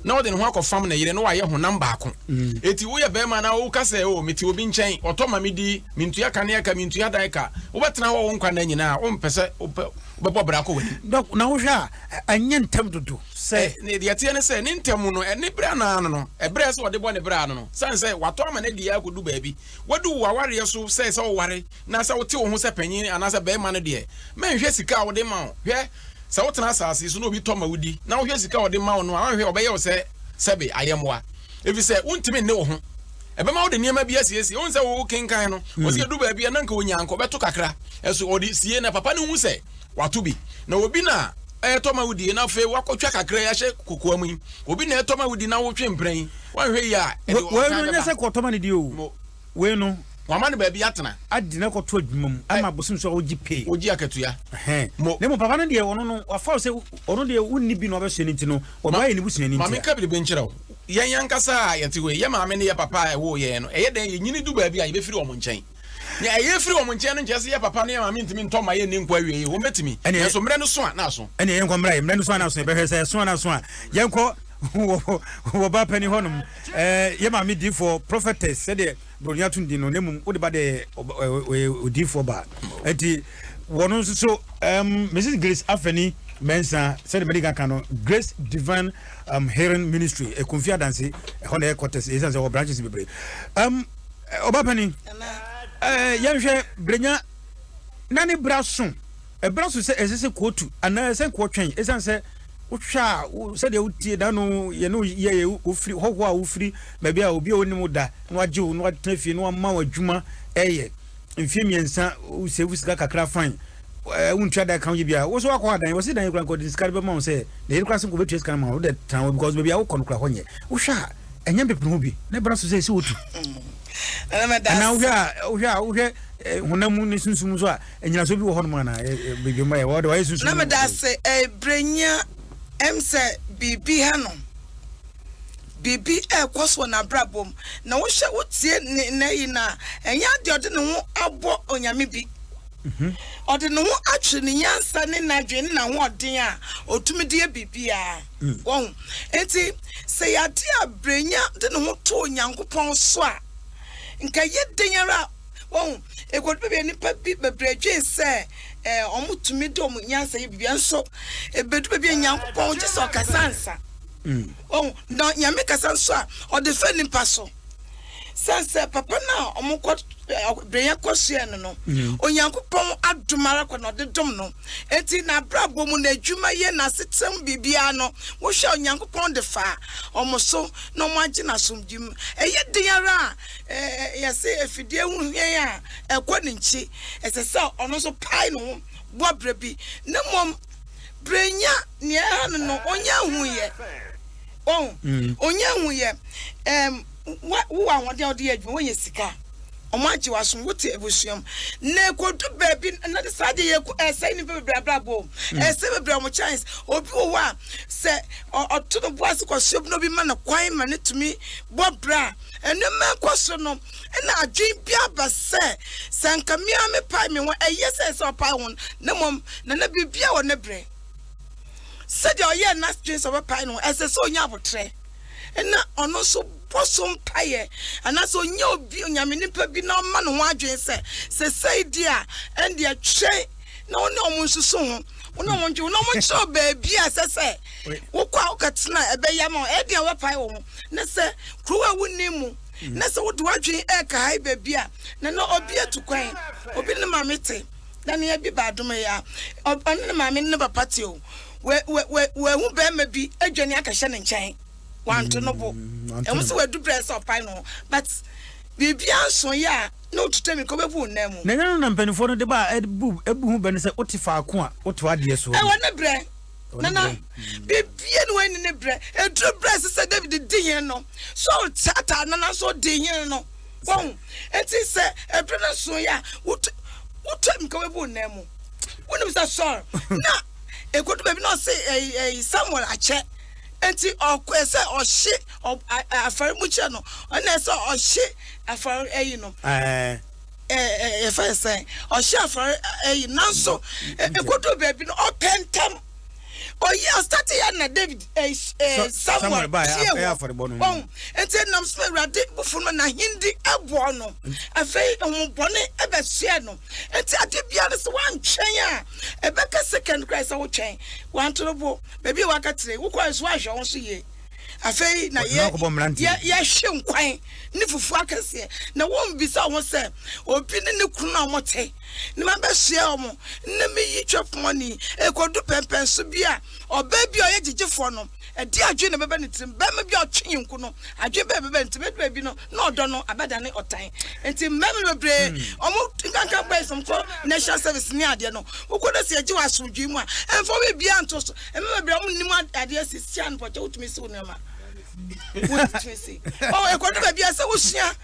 na ɔde ne ho akɔfam ne yere na wayɛ honam baako ɛti mm. woyɛ bɛrima na woka sɛ o oh, mete obi nkyɛn ɔtɔ ma medi mentua kaneɛ ka mentua dan ka wobɛtena hɔ wo nkwa na nyinaa wompɛ sɛ wobɛbɔ bra kɔ w'ani na wohwɛ a ɛnyɛ ntam dodo Sɛ ne deɛ ɛteɛ ne sɛ, ne ntamu no, ɛne berɛ anaa ano no, ɛberɛ a ɛsɛ ɔde bɔ ne berɛ ano no, sane sɛ watɔ ama no adie ara kɔdu baabi. Wadu wo awareɛ so sɛ sɛ woware na sɛ wote wo ho sɛ panin anaa sɛ barima no deɛ, mɛnhwɛ sika a wɔde ma wo. Hwɛ, sɛ wotena asase so na obi tɔ ma wo di, na wohwɛ sika a ɔde ma wo no a, woanhwɛ, ɔbɛyɛ wo sɛ sɛbe ayɛmmoa, ɛfiri sɛ wontumi nne wo ho. Ɛbɛma wode nneɛma bi asiesie. Wohu sɛ wokenkan no, ɔsi ɛdu baabi a na nka ɔnya nka ɔbɛto kakra, ɛso ɔde sie na papa no hu sɛ wato bi. Na obi na. Ɛtɔ ma wudi na afei woakɔtwa kakra yi ahyɛ kokoa mu yi. Obi na ɛtɔ ma wodi na wotwe mprɛn yi. Woanhwɛ yie a, ɛde ɔtan bɛba. Wei no, ɛnyɛ sɛ kɔtɔ ma no di o. Wei no. Wɔama no baabi atena. Adi na kɔto adwuma mu ama abosom so a wogye pay. Wogye akatua. Mo. Na mmom papa no deɛ, ɔno no, wafa wo sɛ ɔno deɛ wonni bi na wabɛsoɛ no nti no, ɔdɔ ayɛ ne busuani nti a. Ma menka biribi nkyerɛ wo. Yɛn ankasa a yɛte hɔ yi, yɛn maame ne yɛn papa a ɛwoo yɛn no, ɛyɛ dɛn yɛnyini du baabi a yɛbɛfiri wɔn nkyɛn? Nea ɛyɛ firi wɔn nkyɛn no nkyerɛ sɛ yɛ papa ne yɛ maame ntumi ntɔ mma yɛnni nkwa awiei. Wɔbɛtumi, nanso mmerɛ no so a na aso. Ɛne yɛnkɔ mmra yɛ mmerɛ no so a na aso. Yɛbɛhwɛ sɛ ɛso a na aso a yɛnkɔ wɔ baa panin hɔ nom. Yɛ maame diifoɔ, prophetess, sɛdeɛ Buronya to din no, na mmom wode ba deɛ ɔyɛ odiifoɔ baa. Ɛti wɔn nso so Mrs. Grace Afeni Mɛnsa sɛdeɛ mɛde ka no Grace Divine um, Hearing Ministry, Ekunfi Adanse, ɛhɔ na ɛyɛ quarters, ɛsan sɛ wɔ branches bebree. Um, ɔbapani ɛɛ yɛnhwɛ brenya na ne bra so ɛbra so sɛ ɛsɛ sɛ kootu anaa ɛsɛ nkoɔ twɛn ɛsiane sɛ wohwɛ a sɛdeɛ wotie da no yɛne woyɛ yɛ wofiri hɔhoɔ a wofiri baabi a obi a wonim wo da na wagye wo na watena fie na wama wo adwuma ɛyɛ mfie mmiɛnsa wosɛfu sika kakra fan wontua da ka woyɛ bia wo so wakɔ adan wɔse dan kora nkɔde sika de bɛma wo sɛ na yɛde kora se nkɔbɛtua sika no ma wo wode tena hɔ because baabi a wokɔ no kora hɔ nyɛ wohwɛ a ɛnyɛ mpepem ho bi ne bra so sɛ ɛsɛ wotu anaa wohwɛ a wohwɛ a wohwɛ eh, honam mu ne sunsum so a anyinasoɔ bi wɔ hɔnom anaa eh, eh, badwamma yɛ wɔde wɔayɛ sunsum na meda ase ɛbrɛnya ɛm sɛ biribi ha no biribi ɛrekɔ soɔ n'abrabɔ mu na wohwɛ wotie ne nna yi no a ɛnyɛ adeɛ ɔde ne ho abɔ onyame bi mhm. ɔde ne ho atwe ne nyansa ne n'adwene ne n'ahoɔden a ɔtumi de yɛ biribiara Wahu? Enti, sɛ yɛade a Brenya de ne ho too Nyankopɔn so a, nka ɛyɛ dɛn ara a, wahu, ɛkɔdu baabi a nnipa bi bebree dwen sɛ ɛɛ wɔtumi de wɔn nyansa yɛ biribi, nanso ɛbɛdu baabi a Nyankopɔn gye sɛ ɔkasa ansa. Wahu? Na Nyame kasa nso a, ɔde fa nnipa so. Sɛ sɛ papa no a wɔn kɔ breyɛ kɔ hyɛɛ no no, mm. Onyankopɔn adom ara kɔ na ɔde dom no. Eti n'abrabɔ mu n'adwuma yɛ n'asetam biribiara no, wohwɛ Onyankopɔn de fa wɔn so na wɔn agye n'asomdwe mu. Ɛyɛ den ara a ɛɛ yɛsɛ afidie ho hwɛn a ɛkɔ ne nkyi. Ɛsɛ sɛ ɔno nso pae ne ho bɔ brɛ bi na mmom brenya nea ɛha no no ɔnyɛ ahu yɛ. Wahu? Onnya nhuiɛ. Ɛɛm, wa, wowɔ ahoɔden a wode yɛ adwuma, woanya sika, wɔagye wo asom, wote abusua mu. Na ɛkɔdu baabi no, na saa adeɛ yi ɛko, ɛsɛe nnipa bebree abrabɔ o. Ɛsɛe bebree wɔn chance. Obi wɔ hɔ a, sɛ ɔ, ɔto ne bo ase kɔsoɛ bi na obi ma no kwan ma no tumi bɔ bra a, nneɛma rekɔ so no, ɛna adwene bi aba sɛ, sɛ anka me ara mepae me ho a, ɛyɛ sɛ ɛsɛ sɛ ɔpae ho no, na mmom, na na biribiara wɔ ne berɛ. sɛdeɛ ɔyɛɛ n'adwene sɛ ɔbɛpae no, ɛsɛ sɛ ɔnya aboterɛ na ɔno nso bɔ so mpaeɛ, anaasɛ ɔnya obi onyame nipa bi na ɔma ne ho adwene sɛ sesei deɛ a ɛndeɛ twɛn na wo ne ɔmo nsusu ho wo ne ɔmo ntwe wo ne ɔmo nkyerɛ baabi a ɛsɛ sɛ wokɔ a wokɛtena ɛbɛyɛ ma ɛdeɛ wobɛpae wɔ ho na sɛ kurow a wonni mu na sɛ wode w'adwene ɛɛka ha baabi a na na obi atu kwan obi ne maame te na nea bi ba adom yi a, ɔne ne maame ne ne papa te o, wahu barima bi adwane akɛhyɛ ne nkyɛn, wanto no bo. Mm, Ɛho sɛ wadu berɛ sɛ ɔpae no ho, but biribiara nso yɛ a na ɔtuta mi ka ɔbɛbu wo nan mu. Na ɛnyɛ no na mpanimfoɔ no de ba a ɛbu ho bɛ no sɛ wote faako a woto adeɛ soɔ no. Ɛwɔ ne berɛ. Nana, biribiara ne wɔn ne ne berɛ. Ɛduru berɛ sɛ sɛ David di hene no, Saul taataa no nanso ɔdi hene no. Wahu? Enti sɛ ɛduru no nson yɛ a, wot, wotwa mu ka wabu wo nan mu. Wonim sɛ Saul, na ɛkɔdu baabi na ɔse ɛyi, ɛyi Samuel akyɛ. Enti ɔkɔ sɛ ɔhye afɔre mu kyerɛ no, ɔna sɛ ɔhye afɔre ɛyi no. Ɛɛ. Ɛɛ, ɛfɛ sɛn, ɔhye afɔre ɛyi, nanso ɛkɔdu baabi no ɔpɛ ntɛm. oyi asate yɛ na david eh, eh, samuel sie wɔ ɔn nti nam so awurade bufo no n'ahendi ɛboɔ no afei homobɔne ɛbɛsoɛ no nti ade bia no sɛ woantwɛn a ɛbɛka second kora sɛ wotwɛn wantorobo baabi a waka tire wokɔɛ so woahwɛ wo so yie afei na yɛhwe nkwan ne fufuo akɛseɛ na wombisa wo ho sɛ obi ne ne kunu a wɔte na mabɛsoɛ wɔn, na meyi twɛpɔnne, ɛkɔdu pɛmpɛn so bi a, ɔbaa bi a ɔyɛ gyegyefoɔ no, ɛdeɛ adwene na ɛbɛba ne tirim, barima bi a ɔtwe nyonko no, adwene bɛɛ ɛbɛba ne tirim, ɛdu baabi no, na ɔdɔ no abɛdane ɔtan. Nti mmarima bebree, wɔn hmm. nkankan bɛyɛ sɛ wɔkɔ national service ne adeɛ no, wokɔ no sɛ yɛgye wɔ asomdwee mu a, ɛmfa wo biribiara nto so, mmarima bebree wɔn nnim adeɛ si, hyɛ anopɔkyɛ wotumi si wo nneɛma. wotumi si. Ɔwɔ ɛkɔdu baabi a sɛ wosua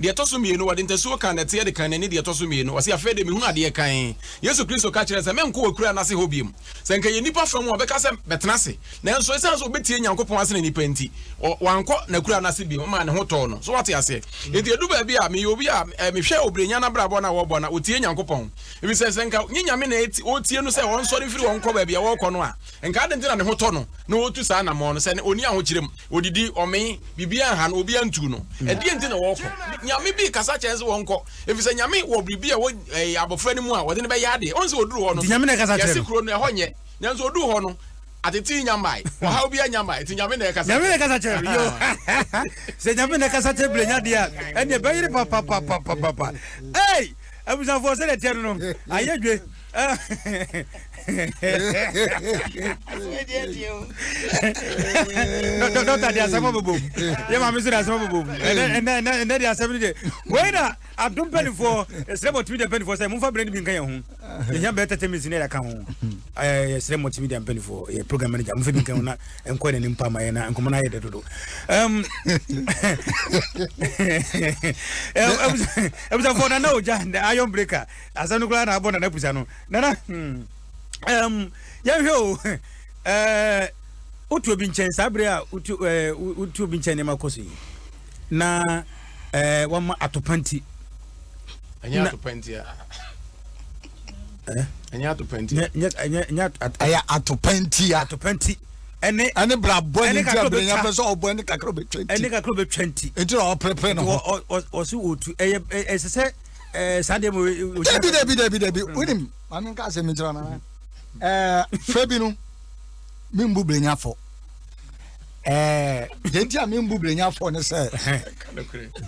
Deɛ ɛtɔ so mmienu, wɔde ntasuo kaa nnɛteɛ de kaa n'ani, deɛ ɛtɔ so mmienu, ɔse, Afei deɛ mehunu adeɛ kann. Yesu Kristo ka kyerɛɛ sɛ, Merenkɔ w'Akuraa no ase hɔ bio. Sɛ anka ɛyɛ nnipa fam a, ɔbɛka sɛ, Bɛtena ase. Nanso ɛsiane sɛ ɔbɛtie Nyankopɔn asene nnipa nti, ɔ, wankɔ n'Akuraa no ase bio, ɛmaa ne ho tɔɔ no. So woate aseɛ? Enti ɛdu baabi a, meyɛ obi a, ɛ, mehwɛ Obrenya no abrabɔ no a wɔbɔ no a, ɔtie Nyankopɔn. Ɛfiri sɛ, sɛ anka nyɛ Nyame na ɛti, ɔretie no sɛ ɔnsɔre mfiri hɔ nkɔ baabi a ɔrekɔ no a, anka adɛn nti na ne ho tɔ no na ɔretu saa anammɔn no, sɛ ne, ɔnni ahokyerɛ mu? Odidi, ɔmee, biribiara anha no, obiara ntuu no. Ɛdeɛn nti na wɔkɔ? Nyame bi rekasa kyerɛ sɛ wɔnkɔ, ɛfiri sɛ Nyame wɔ biribi a ɛwɔ eh, abɔfra no mu a wɔde no bɛyɛ adeɛ. Ɔhu sɛ ɔduru hɔ no, yɛse kuro no ɛhɔ nyɛ, nanso ɔduru hɔ no, atete nya mmae, ɔhaw bi anya mmae, nti Nyame na ɛkasa kyerɛ. Nyame na ɛkasa kyerɛ no, yo. Sɛ Nyame na ɛkasa kyerɛ bile nya deɛ a, ɛneɛ bɛyere papapapapapa. Ei! Abusafoɔ sɛdeɛ teɛ no no, ayɛ dwe. dɔkta de asɛm bobom yɛ maame nso de asɛm bobom ɛnɛ de asɛm no de wei na adom mpanifoɔ ɛsrɛ mɔtumi de mpanifoɔ sɛ momfa berɛ no bi nka yɛ ho yɛhia bɛɛ tɛtɛ mesi ne yɛka ho yɛsrɛ mɔtumi de mpanifoɔ yɛ program manager momfa bi nka ho na ɛnkɔ ne ne mpa ma yɛ na nkɔmmɔ no ayɛ dɛ dodo abusafoɔ nana ogya ayɔn breaker Asɛm no koraa na abɔ nana pusa no nana hmm ɛɛm yɛnhwɛ o ɛɛ wotu obi nkyɛn saa bere a wotu ɛɛ wotu obi nkyɛn nneɛma kɔ so yi na ɛɛ wɔn atopanti. ɛnyɛ atopanti a ɛnyɛ atopanti a ɛyɛ atopanti a atopanti ɛne ɛne brabɔ ne ti abiri nya fɛ sɛ ɔbɔ ɛne kakra obetwa nti ɛne kakra obetwa nti nti na ɔpɛrɛpɛrɛ ne ho ɔsi otu ɛyɛ ɛsɛ sɛ. Eh, saa deɛ mo dabi dabi dabi dabi mm. wonim ma menka asɛm no nkyerɛ nana eh, fɛ bi no membu berɛnyafɔ yɛnti eh, a membu berɛnyafɔ ne sɛ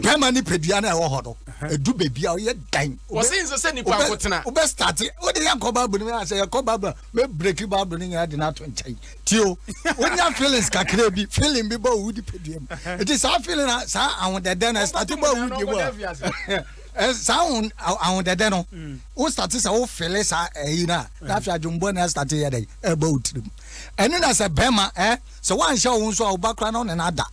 bɛma ne padua no ɛwɔ hɔ no ɛdu baabi a woyɛ dan wobɛstate wode yɛnkɔ bible no sɛ yɛkɔ bible me breki bible no nyinaa de no ato nkyɛn tio wonya feelings kakra bi feeling bi bɔ wo wodi padua mu ɛti saa feeling na saa ahodɛdɛ no ɛstate bɔ wo wodi mu a saa ahodɛdɛ no wo state sɛ wo fele saa ɛyi no a na afei adwombɔ no ɛstate yɛ dɛn ɛbɔ wo tirim ɛne na sɛ bɛrima ɛ sɛ woanhyɛ wo nso a wo ba kora no ne no ada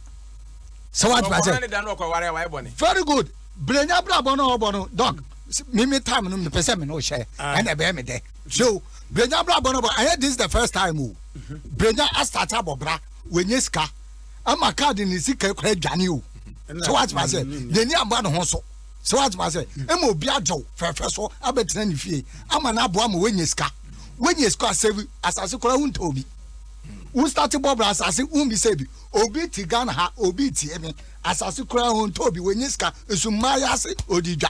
sɛ woatena sɛ very good berɛnya berabɔ no ɔbɔ no dɔk mimi tam no mepɛ sɛ me ne wohyɛ ɛna ɛbɛyɛ me dɛ Hwɛ o, Brenya abrabɔ no bɔ, ɛnyɛ this the first time o. Brenya asate abɔ bra, wanya sika, ɛma kaa de ne sika kura adwane o. So wate ma sɛ, n'ani amba ne ho so. So wate ma sɛ, ɛma obi agyew fɛfɛ so abɛtena ne fie, ama no aboa ma wanya sika. Wanya sika a, sɛ asase kura ho ntɔ obi. Wo start bɔ bra asase, wo bi sɛ bi, obi ti Ghana ha, obi ti ɛmi, asase kura ho ntɔ obi, wanya sika, nso mmaa yɛ ase, odi dwa.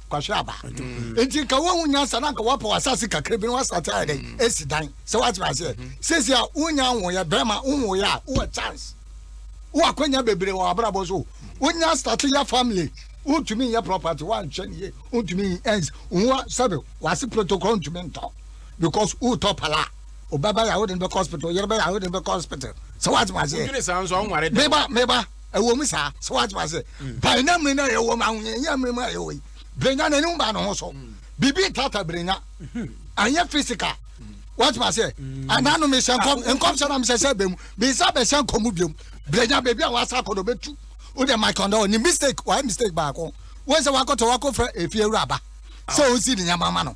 kwahwɛ aba mm. nti nka wohu nyansa na nka woapɛ w'asase kakra bi na woasate ayɛ dɛn mm. asi dan sɛ woatena aseɛ mm. seesie a wonya nwoyɛ bɛrima wonwoyɛ a wowɔ chance wowɔ akwanya bebree wɔ abrabɔ so wonya starte yɛ family wontumi nyɛ property woanhwɛ ne ye wontumi ɛns wowa sɛbe wase protocol ntumi ntɔ because wotɔ pala wobɛba yɛ a wode no bɛkɔ hospital yere bɛyɛ a wode no bɛkɔ hospital sɛ woatena aseɛ meba meba ɛwɔ mu saa sɛ wate ma sɛ ban na mmiri no a yɛwɔ mu ahoyɛnyɛ mmiri mu a yɛwɔ yi birenya na anim ba ne ho so biribi ntata birenya anyɛ fisika wate ma sɛ anaa no mehyɛ nkɔm nkɔm sɛ na mehyɛ sɛ bɛ mu bisa bɛhyɛ nkɔm mu biom birenya baabi a wasa akɔ no bɛtu wode mike ɔndɔ ne mistake wayɛ mistake baako wɔn sɛ wakɔtɔ wakɔfrɛ efie wura ba sɛ ɔsi ne nyɛma ma no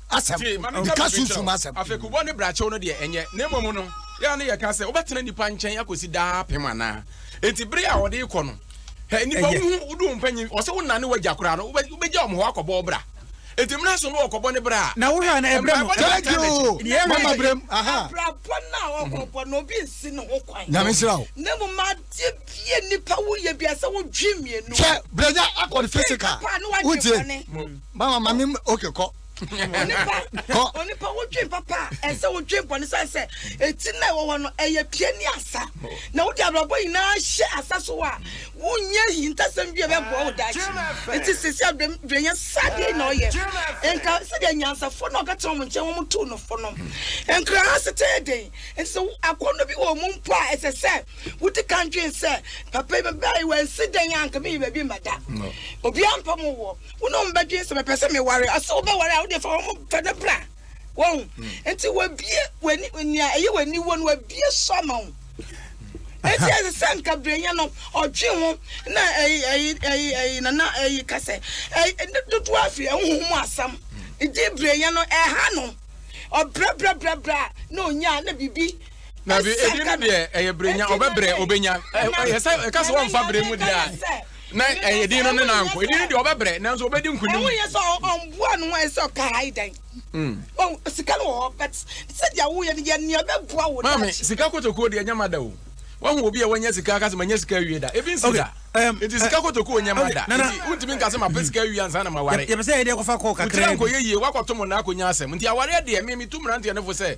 asɛm meka sunsum asɛm. Afekubɔ ne brakyew no deɛ ɛnyɛ, na mmom no yɛa ne yɛka sɛ wobɛtena nnipa nkyɛn akɔsi daa apem anaa? Enti bere a wɔde kɔ no, hɛ nnipa wohu wodu wo mpanyin ɔsɛ wo nane wagya koraa no wobɛgya wɔn hɔ akɔbɔ wo bra. Enti mmra so no wɔkɔbɔ ne bra a. Na wohwɛ a na ɛbrɛ no. Thank you. Mama brem. Aha. Abrabɔ no a ɔkɔbɔ no obi nsi ne ho kwan. Nyame nsira wo. Na mmom adeɛ bie nnipa woyɛ bia sɛ wodwe mmienu. Hwɛ brɛnya akɔ ne physical. Wotie. báwa ma mi oke kɔ. onipa onipa wodwen papa a ɛsɛ wodwen bɔne sɛ sɛ ɛti na ɛwɔ hɔ no ɛyɛ pie ne asa na wode abrabɔ nyinaa hyɛ asa so a wonyɛ hintasɛm bi a ɛbɛboa wo daakye nti sɛsi adwenya sadeɛ na ɔyɛ nka sɛdeɛ nyansafo na ɔbɛtena wɔn nkyɛn wɔn tu no fo no nkra ha setee den nti sɛ akɔnnɔ bi wɔ mu mpo a ɛsɛ sɛ wodi kan dwen sɛ papa yi bɛbɛe wansi dɛn a nka meyi baabi mmɛda obiara mpa mu wɔ wo ne wɔn bɛdwen sɛ mepɛ sɛ meware ɔsɛ wobɛware a wode fa wɔn fa no bra wɔn hmm. nti wabie wani nea ɛyɛ wani wɔ no wabie so ama wo eti ɛsɛ sɛ nkabranya no ɔtwe ho na ɛyi ɛyi ɛyi ɛyi nana ɛyi kasɛ ɛyi ɛdi dodo afi ɛhuhu mu asam ɛdi branya no ɛha no ɔbrɛbrɛbrɛbrɛ na onya na bibi na bi ebi no deɛ ɛyɛ brenya ɔbɛbrɛ ɔbɛnya ɛyɛ sɛ ɛka sɛ wɔnfa brɛ mu deɛ a. na ɛyɛ din no ne nanko ɛdin no deɛ ɔbɛbrɛ nanso ɔbɛdi nkonim woyɛ sɛ ɔmboa no ayɛ sɛ ɔkae dɛn hmm. sika no wɔ hɔ but sɛdeɛ woyɛ no yɛ nea bɛboa wo maame sika kotokuo deɛ ɛnyɛ mada o wahu obi a wanya sika aka sɛ manya sika awie da ebi nsi da nti um, sika uh, kotokuo nyɛ mada nti wontumi nka sɛ mapɛ sika awie ansa na maware yɛpɛ sɛ yɛdeɛ kɔfa kɔɔ kakra nkɔyɛ yie woakɔto mo na akɔnya asɛm nti awareɛ deɛ me metu mmeranteɛ no fo sɛ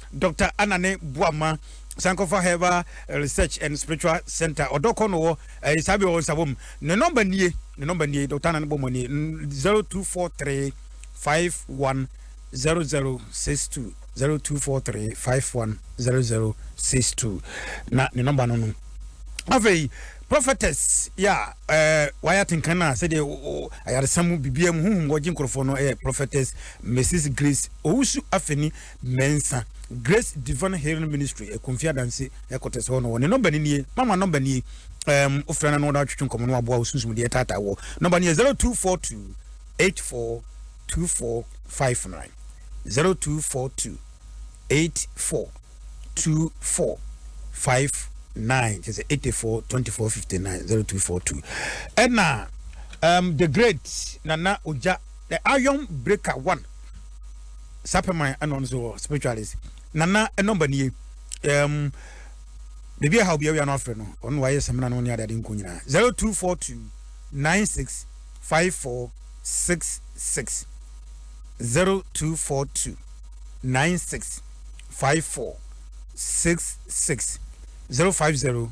Doctor Anane Boamah Sankofa Herbal Research and Spiritual Center ɔdɔ kɔ no wɔ ɛyɛ saa bi wɔ nsa wɔm ne nɔmba nie ne nɔmba nie Doctor Anane Boamah nie zero two four three five one zero zero six two zero two four three five one zero zero six two na ne nɔmba no no afei prophetess ya ɛɛ wayɛ atenkan na sɛdeɛ ayaresa mu bibia mu huhum wɔgye nkorɔfoɔ no ɛyɛ prophetess mrs grace owusu afeni Mensah, Grace Divine Healing Ministry, Akumfi Adanse headquarters hɔ no. Wɔn ne nɔmba no nie. Mama nɔmba nie. Um, wofrɛ no na wɔde atwetwe nkɔmmɔ no aboa wo sunsum deɛ ɛtaataa wɔ. Nɔmba no yɛ 0242 842459. 0242 842459 kyerɛ sɛ 84 24 59 0242 ɛna um, the great nana ogya the iron breaker one sapɛ man ɛna ɔno nso wɔ spiritualist nana ɛnɔmba nie ɛɛm biribi ɛha obi awia no afrɛ no ɔno na wayɛ sɛmina no ne adeade nko nyinaa zero two four two nine six five four six six zero two four two nine six five four six six zero five zero.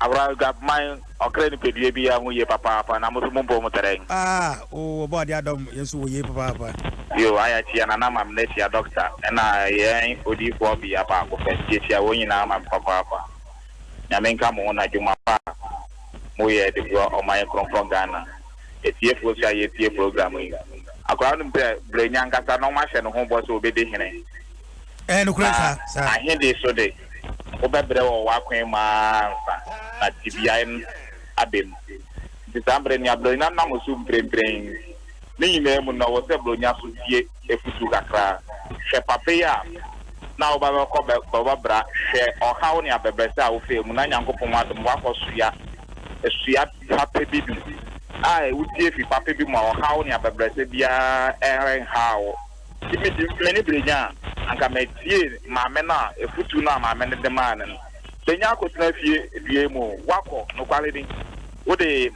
Abra Aguabman ɔkra nipadua biara ho yie papaapa na mo nso mo mpɔw mu tɛrɛn. Aah oo ɔbɔ adeɛ adɔm yɛn nso wɔ yie papaapa. Yoo ayɛ akyia nana ma me na akyia doctor ɛna yɛn odiyifoɔ ɔbea baako pɛ nti akyia wɔn nyinaa ma me papaapa nyame nka mo ho na dwuma pa a mo yɛ de boa ɔman yɛ kronkron Ghana atiefoɔ nso a yɛ tie program yi. Akwadaa no nim sɛ brɛnya ankasa na wɔahyɛ ne ho bɔ sɛ ɔbɛdi hene. Ɛyɛ nokorɛ saa. Na ahede so de, wobɛbrɛ wɔ w'akwan mu ara ansa na tebea no aba mu. Nti saa bere no, Buronya nam so mprempren. Ne nyinaa mu no, ɔwɔ sɛ Buronya nso tie afotu kakra. Hwɛ papa yi a na wo ba bɛkɔ bɛbɔbra, hwɛ ɔhaw ne abɛbrɛsɛ a wofaa mu, na Nyankopɔn adom woakɔ soa sua papa bi mu a wutie fi papa bi mu a ɔhaw ne abɛbrɛsɛ biara renhaw wo. Sɛ midi m'ani bere nya a, anka metie maame no a afotu no a maame no de mae no no. Benya akɔtena fie dua mu oo, woakɔ, nokware ni, wode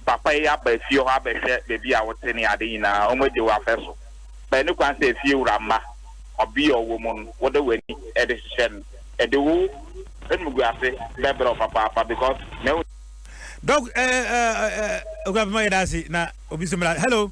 papa yi aba fie hɔ abɛhwɛ baabi a wote ne ade nyinaa, wɔagye wo afɛ so. But ɛne kwan sɛ fie wura mma ɔbea a ɔwɔ mu no, wode w'ani de hyehyɛ no. Ɛde wo animguase bɛbrɛ wo papaapa because mahu sɛ. Doc, eh, eh, eh, eh, Owura Bemah, yɛda ase, na obi nso mmra. Hello.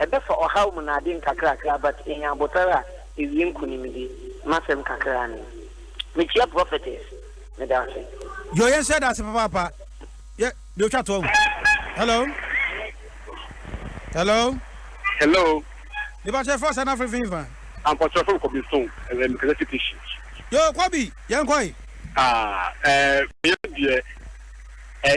Ɛbɛfa ɔhaw mu na ade nkakrakra but enya abotar a ewie nkunimdi m'asɛm kakra ne yi. Mekyia prophetess meda ase. Yoo yɛn hyɛ da ase papaapa yɛ deɛ otwa toɔ ho hello hello. Hello. Mepakyɛ ɛfɔ ɔsɛ na afiri fin fa. Ampakyɛ ɔfɛ kɔbi so ɛlɛ mekɛlɛ fiti shi. Yoo kɔbi yɛn kɔi. Ah eh meyɛ deɛ eh.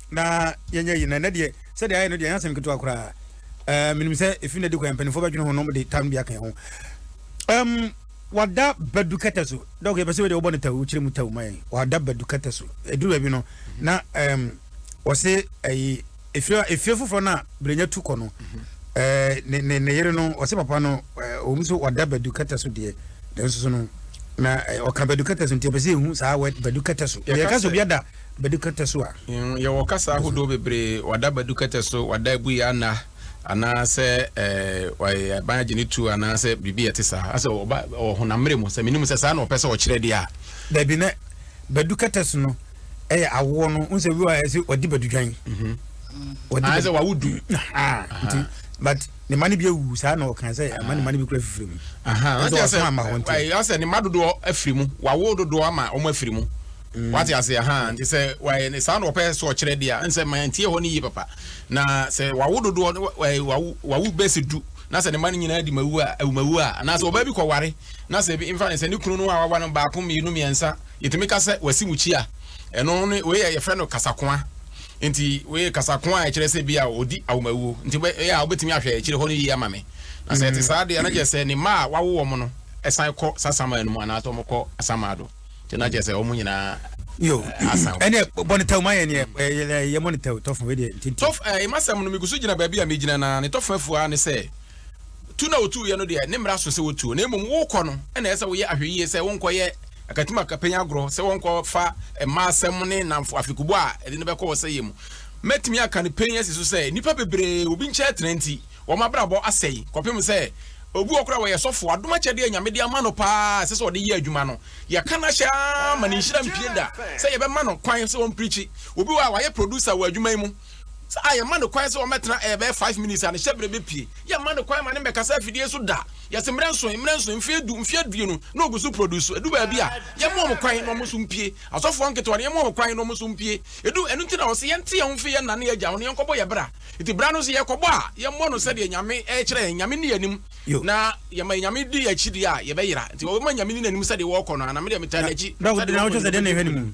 na yɛnyɛ yi na ɛnɛ deɛ sɛdeɛ ayɛ no deɛ ɛnyɛ asɛm ketewa koraa ɛɛ menim sɛ efi na di kwan mpanimfoɔ bɛdwene ho nom de tam bi aka ho ɛm wada badu kɛtɛ so dɔk yɛpɛ sɛ wei deɛ wobɔ no taw wokyerɛ mu taw ma yɛn wada badu kɛtɛ so ɛduru baabi no na ɛm wɔse ɛyi efie efie foforɔ no a berenya tu kɔ no ɛɛ ne ne ne yere no wɔse papa no ɛɛ wɔn nso wada badu kɛtɛ so deɛ nanso so no na ɔka badu kɛtɛ so nti yɛpɛ sɛ yɛhu saa wɛ badu kɛtɛ so yɛka sɛ obi ada Badu kɛtɛ so a. Yɛwɔ kasa ahodoɔ bebree, wada badu kɛtɛ so, wada abu yɛ ana, anaa sɛ waban agye ne tuo anaa sɛ biribi a ɛte saa. Asɛ ɔba wɔ honam mmerɛ mu, sɛ menim sɛ saa na ɔpɛ sɛ ɔkyerɛ deɛ a. Dabi, na badu kɛtɛ so no ɛyɛ awoɔ no, wo sɛ bi wɔ a ɛsɛ ɔdi badu dwan. Anaa sɛ wawo du. Nti, but ne ma no bi awu saa na ɔka sɛ ama ne ma no bi kura fifiri mu. Nso ɔsoma ama hɔ nti. Asɛ ne ma dodoɔ afiri mu, wawo dodoɔ ama wɔn afiri mu. Mm. wate ase aha nti sɛ wayɛ ne saa na ɔpɛ sɛ ɔkyerɛ deɛ a nsɛ ma ntie hɔ no yie papa na sɛ wawo dodoɔ wawo bɛsi du na sɛ ne ma no nyinaa di mawu a awumawu a anaasɛ ɔbaa bi kɔware na sɛ bi mfa ne sɛ ne kunu no a wawa no baako mmienu mmiɛnsa yɛtumi ka sɛ wasi mu kyi a ɛno ne wei yɛ yɛfrɛ no kasakoa nti wei kasakoa a ɛkyerɛ sɛ bi a ɔdi awomawuo nti ɛyɛ a wobɛtumi ahwɛ akyire hɔ no yie ama me na sɛ ɛte mm. saa deɛ na kyerɛ sɛ ne mma a wawo wɔn no ɛsan kɔ sasamaa no mu anaasɛ wɔkɔ asamaa do nti na kyerɛ sɛ wɔn nyinaa yo ɛnɛ bɔ ne tɛw ma yɛn yɛ yɛ mɔ ne tɛw tɔfo wei deɛ ntinti tɔf ɛɛ eh, masɛm no megu so gyina baabi a megyina na ne tɔfo afua ne sɛ tu na otu yɛ no deɛ ne mmara so sɛ wotuo na mmom wokɔ no ɛna ɛsɛ woyɛ ahwɛyie sɛ wonkɔ yɛ akatim akapɛnya agorɔ sɛ wɔnkɔ fa mmaa asɛm ne namfo afekubɔ a ɛde no bɛkɔ wɔ sɛ yɛ mu mɛtumi aka no pɛn asi so sɛ nnipa bebree obi nkyɛn tena nti Wɔn abrabɔ asɛe kɔpem sɛ obi wɔ koraa a wɔyɛ sɔfo, adom akyɛde a Nyame de ama no paa a ɛsɛ sɛ ɔde yɛ adwuma no, yɛka no ahyɛ ara ma ne nhyira mpue da sɛ yɛbɛma no kwan sɛ ɔmprikyi. Obi wɔ ha a wayɛ producer wɔ adwuma yi mu a yɛma no kwan sɛ ɔmmɛtena ɛɛ bɛyɛ five minutes a ne hyɛberɛ bɛpue. Yɛmma no kwan ma no mmɛkasa afidie so da. Yɛse mmerɛ nson, mmerɛ nson, mfeɛ du, mfeɛ aduonu na ɔgu so produce. Ɛdu baabi a yɛmma wɔn kwan na wɔn nso mpue. Asɔfoɔ nketewa no yɛmma wɔn kwan na wɔn nso mpue. Ɛdu ɛno nti na wɔse yɛnte yɛn ho mfiri yɛn nna ne yɛn agya ho na yɛnkɔbɔ yɛn bra. Nti berɛ no sɛ yɛkɔbɔ a, yɛmmɔ no sɛdeɛ Nyame rekyerɛ yɛn. Nyame nni yɛn anim. Na yɛma Nyame di yɛn akyi deɛ a, yɛbɛyera. Nti wɔbɛma Nyame nni n'anim sɛdeɛ wɔrekɔ no ara, na medeɛ metaa n'akyi sɛdeɛ ɔrekɔ no, mɛdi anim no.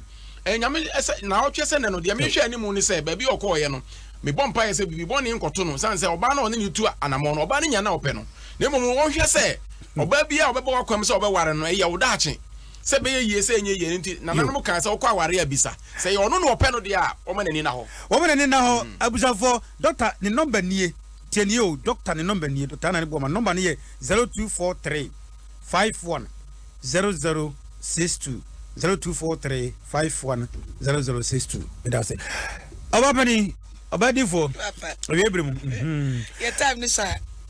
Nyame sɛ, Naawɔtwe sɛ nnɛ no, deɛ mehwɛ anim ne sɛ, baabi a ɔkɔeɛ no, mebɔ mpaeɛ sɛ biribi bɔne nkɔto no, ɛsiane sɛ ɔbaa no a ɔne no retu anamɔn no, ɔbaa no nnya na ɔpɛ no. Na mmom ɔnhwɛ sɛ ɔbaa biara a ɔbɛbɔ w'akwam sɛ ɔbɛware no, ɛyɛ wo daakye. sɛ ɛbɛyɛ yie sɛ ɛnyɛ yie no nti, nananom kaa sɛ ɔkɔ aware a bisa. Sɛ ɛyɛ ɔno na ɔpɛ no deɛ a, wɔma n'ani nna hɔ. Wɔma n'ani nna hɔ. Abusuafoɔ, dɔkta ne nɔmba nie. Tie nie o, dɔkta ne nɔmba nie, Dɔkta Anani Boamah. Ne nɔmba no yɛ zero two four three five one zero zero six two, zero two four three five one zero zero six two. Meda ase. Ɔbaa panin, ɔbaa difoɔ, awie bere mu. Yɛ time ne saa.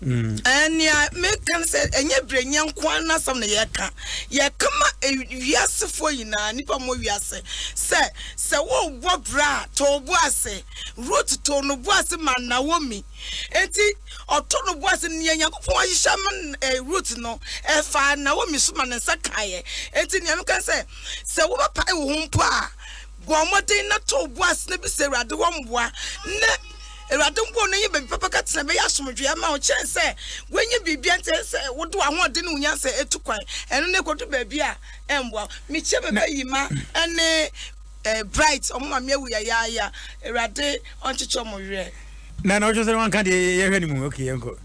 Nea mereka ne sɛ, ɛnyɛ Brenya nko ara n'asɛm na yɛreka. Yɛreka ma wiasefoɔ nyinaa, nnipa a wɔwɔ wiase, sɛ, sɛ worebɔ bra a, tɔ wo bo ase. Rut too ne bo ase maa Naomi. Enti, ɔtoo ne bo ase. Nea Nyankopɔn ahyehyɛ ama Rut no, ɛfaa Naomi so ma ne nsa kaeɛ. Enti, nea meka ne sɛ, sɛ wobɛpae wo ho mpo a, bɔ mmɔden na tɔ wo bo ase na bisa Awurade hɔ mmoa. Awurade mpo na ɔyɛ baabi papa ka tena bɛyɛ asomdwoeɛ ama wo kyɛn sɛ woanya biribiara nti ɛyɛ sɛ wode w'ahoɔden ne wo nyansa ɛtu kwan ɛno na ɛkɔdu baabi a ɛmmoa mekyia bɛbɛ yi ma ɛne eh, bright ɔmo ma me awu yayaaya awurade ɔnkyekyɛ ɔmo werɛ na na ɔtwe sɛ wanka deɛ yɛhwɛ no mu ok yɛnkɔ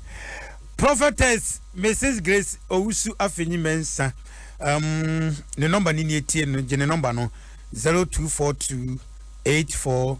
prophetess mrs grace owusu afenyi mɛnsa um, ne nɔmba ne nie tie no gye ne nɔmba no 0242 84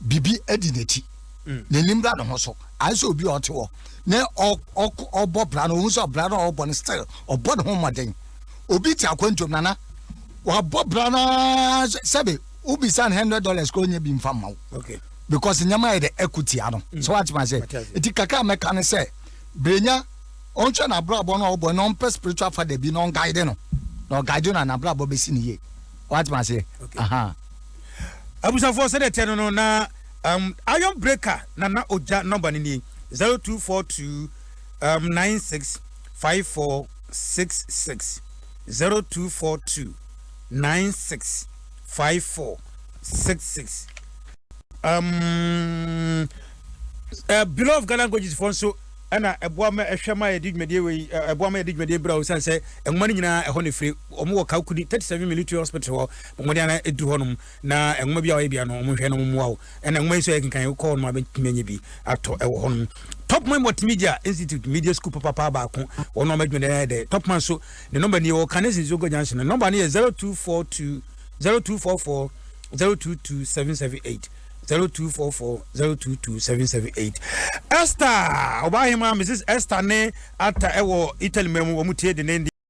biribi di n'akyi, n'ani mmra ne ho so, ayɛ sɛ obi a ɔte hɔ na ɔbɔ bra no, ohu sɛ ɔbra no a ɔbɔ no still ɔbɔ ne ho mmɔden. Obi te akwantuom nana, wabɔ bra no ara sɛbe wobisa no hundred dollars kora ɔnyɛ bi mfa mma wo because nneɛma ayɛ dɛ ɛko tia no mm. sɛ woatema sɛ ɛti kakra a mɛka ne sɛ berɛnya ɔnhwɛ n'abrabɔ no a ɔbɔ na ɔmpɛ spiritual father bi na ɔnguide no na ɔguide no a n'abrabɔ bɛsi ne yie woatema aseɛ aha Abusuafoɔ sɛdeɛ ɛteɛ no no na um, Iron Breaker na na ogya nɔmba no nie 0242 um, 965466 0242 965466 um, uh, Below of Ghana Languages foɔ nso ɛna ɛboa ma ɛhwɛ ma yɛde dwumadie wei ɛboa ma yɛde dwumadie bra o sane sɛ nwoma no nyinaa ɛhɔ ne firi wɔn wɔ Kaukuni 37 military hospital hɔ Wɔn de ana ɛduru hɔnom na nwoma bi a wɔyɛ bia no wɔn hwɛ na wɔn mmoa wo. Ɛna nwoma yi nso yɛ kenkan kɔ hɔnom a bɛtumi anya bi atɔ wɔ hɔnom. Topman Multimedia Institute Media School papapaa baako wɔn na wɔn adwuma dɛn ayɛ dɛ. Topman so ne nɔmba ni wɔ Kane Sensongo Junction no nɔmba no yɛ zero two four two zero two four four zero two two seven seven eight zero two four four zero two two seven seven eight. Esther Obahima Mrs Esther ne Atta ɛwɔ Italy mɛmu wɔn tie denenden.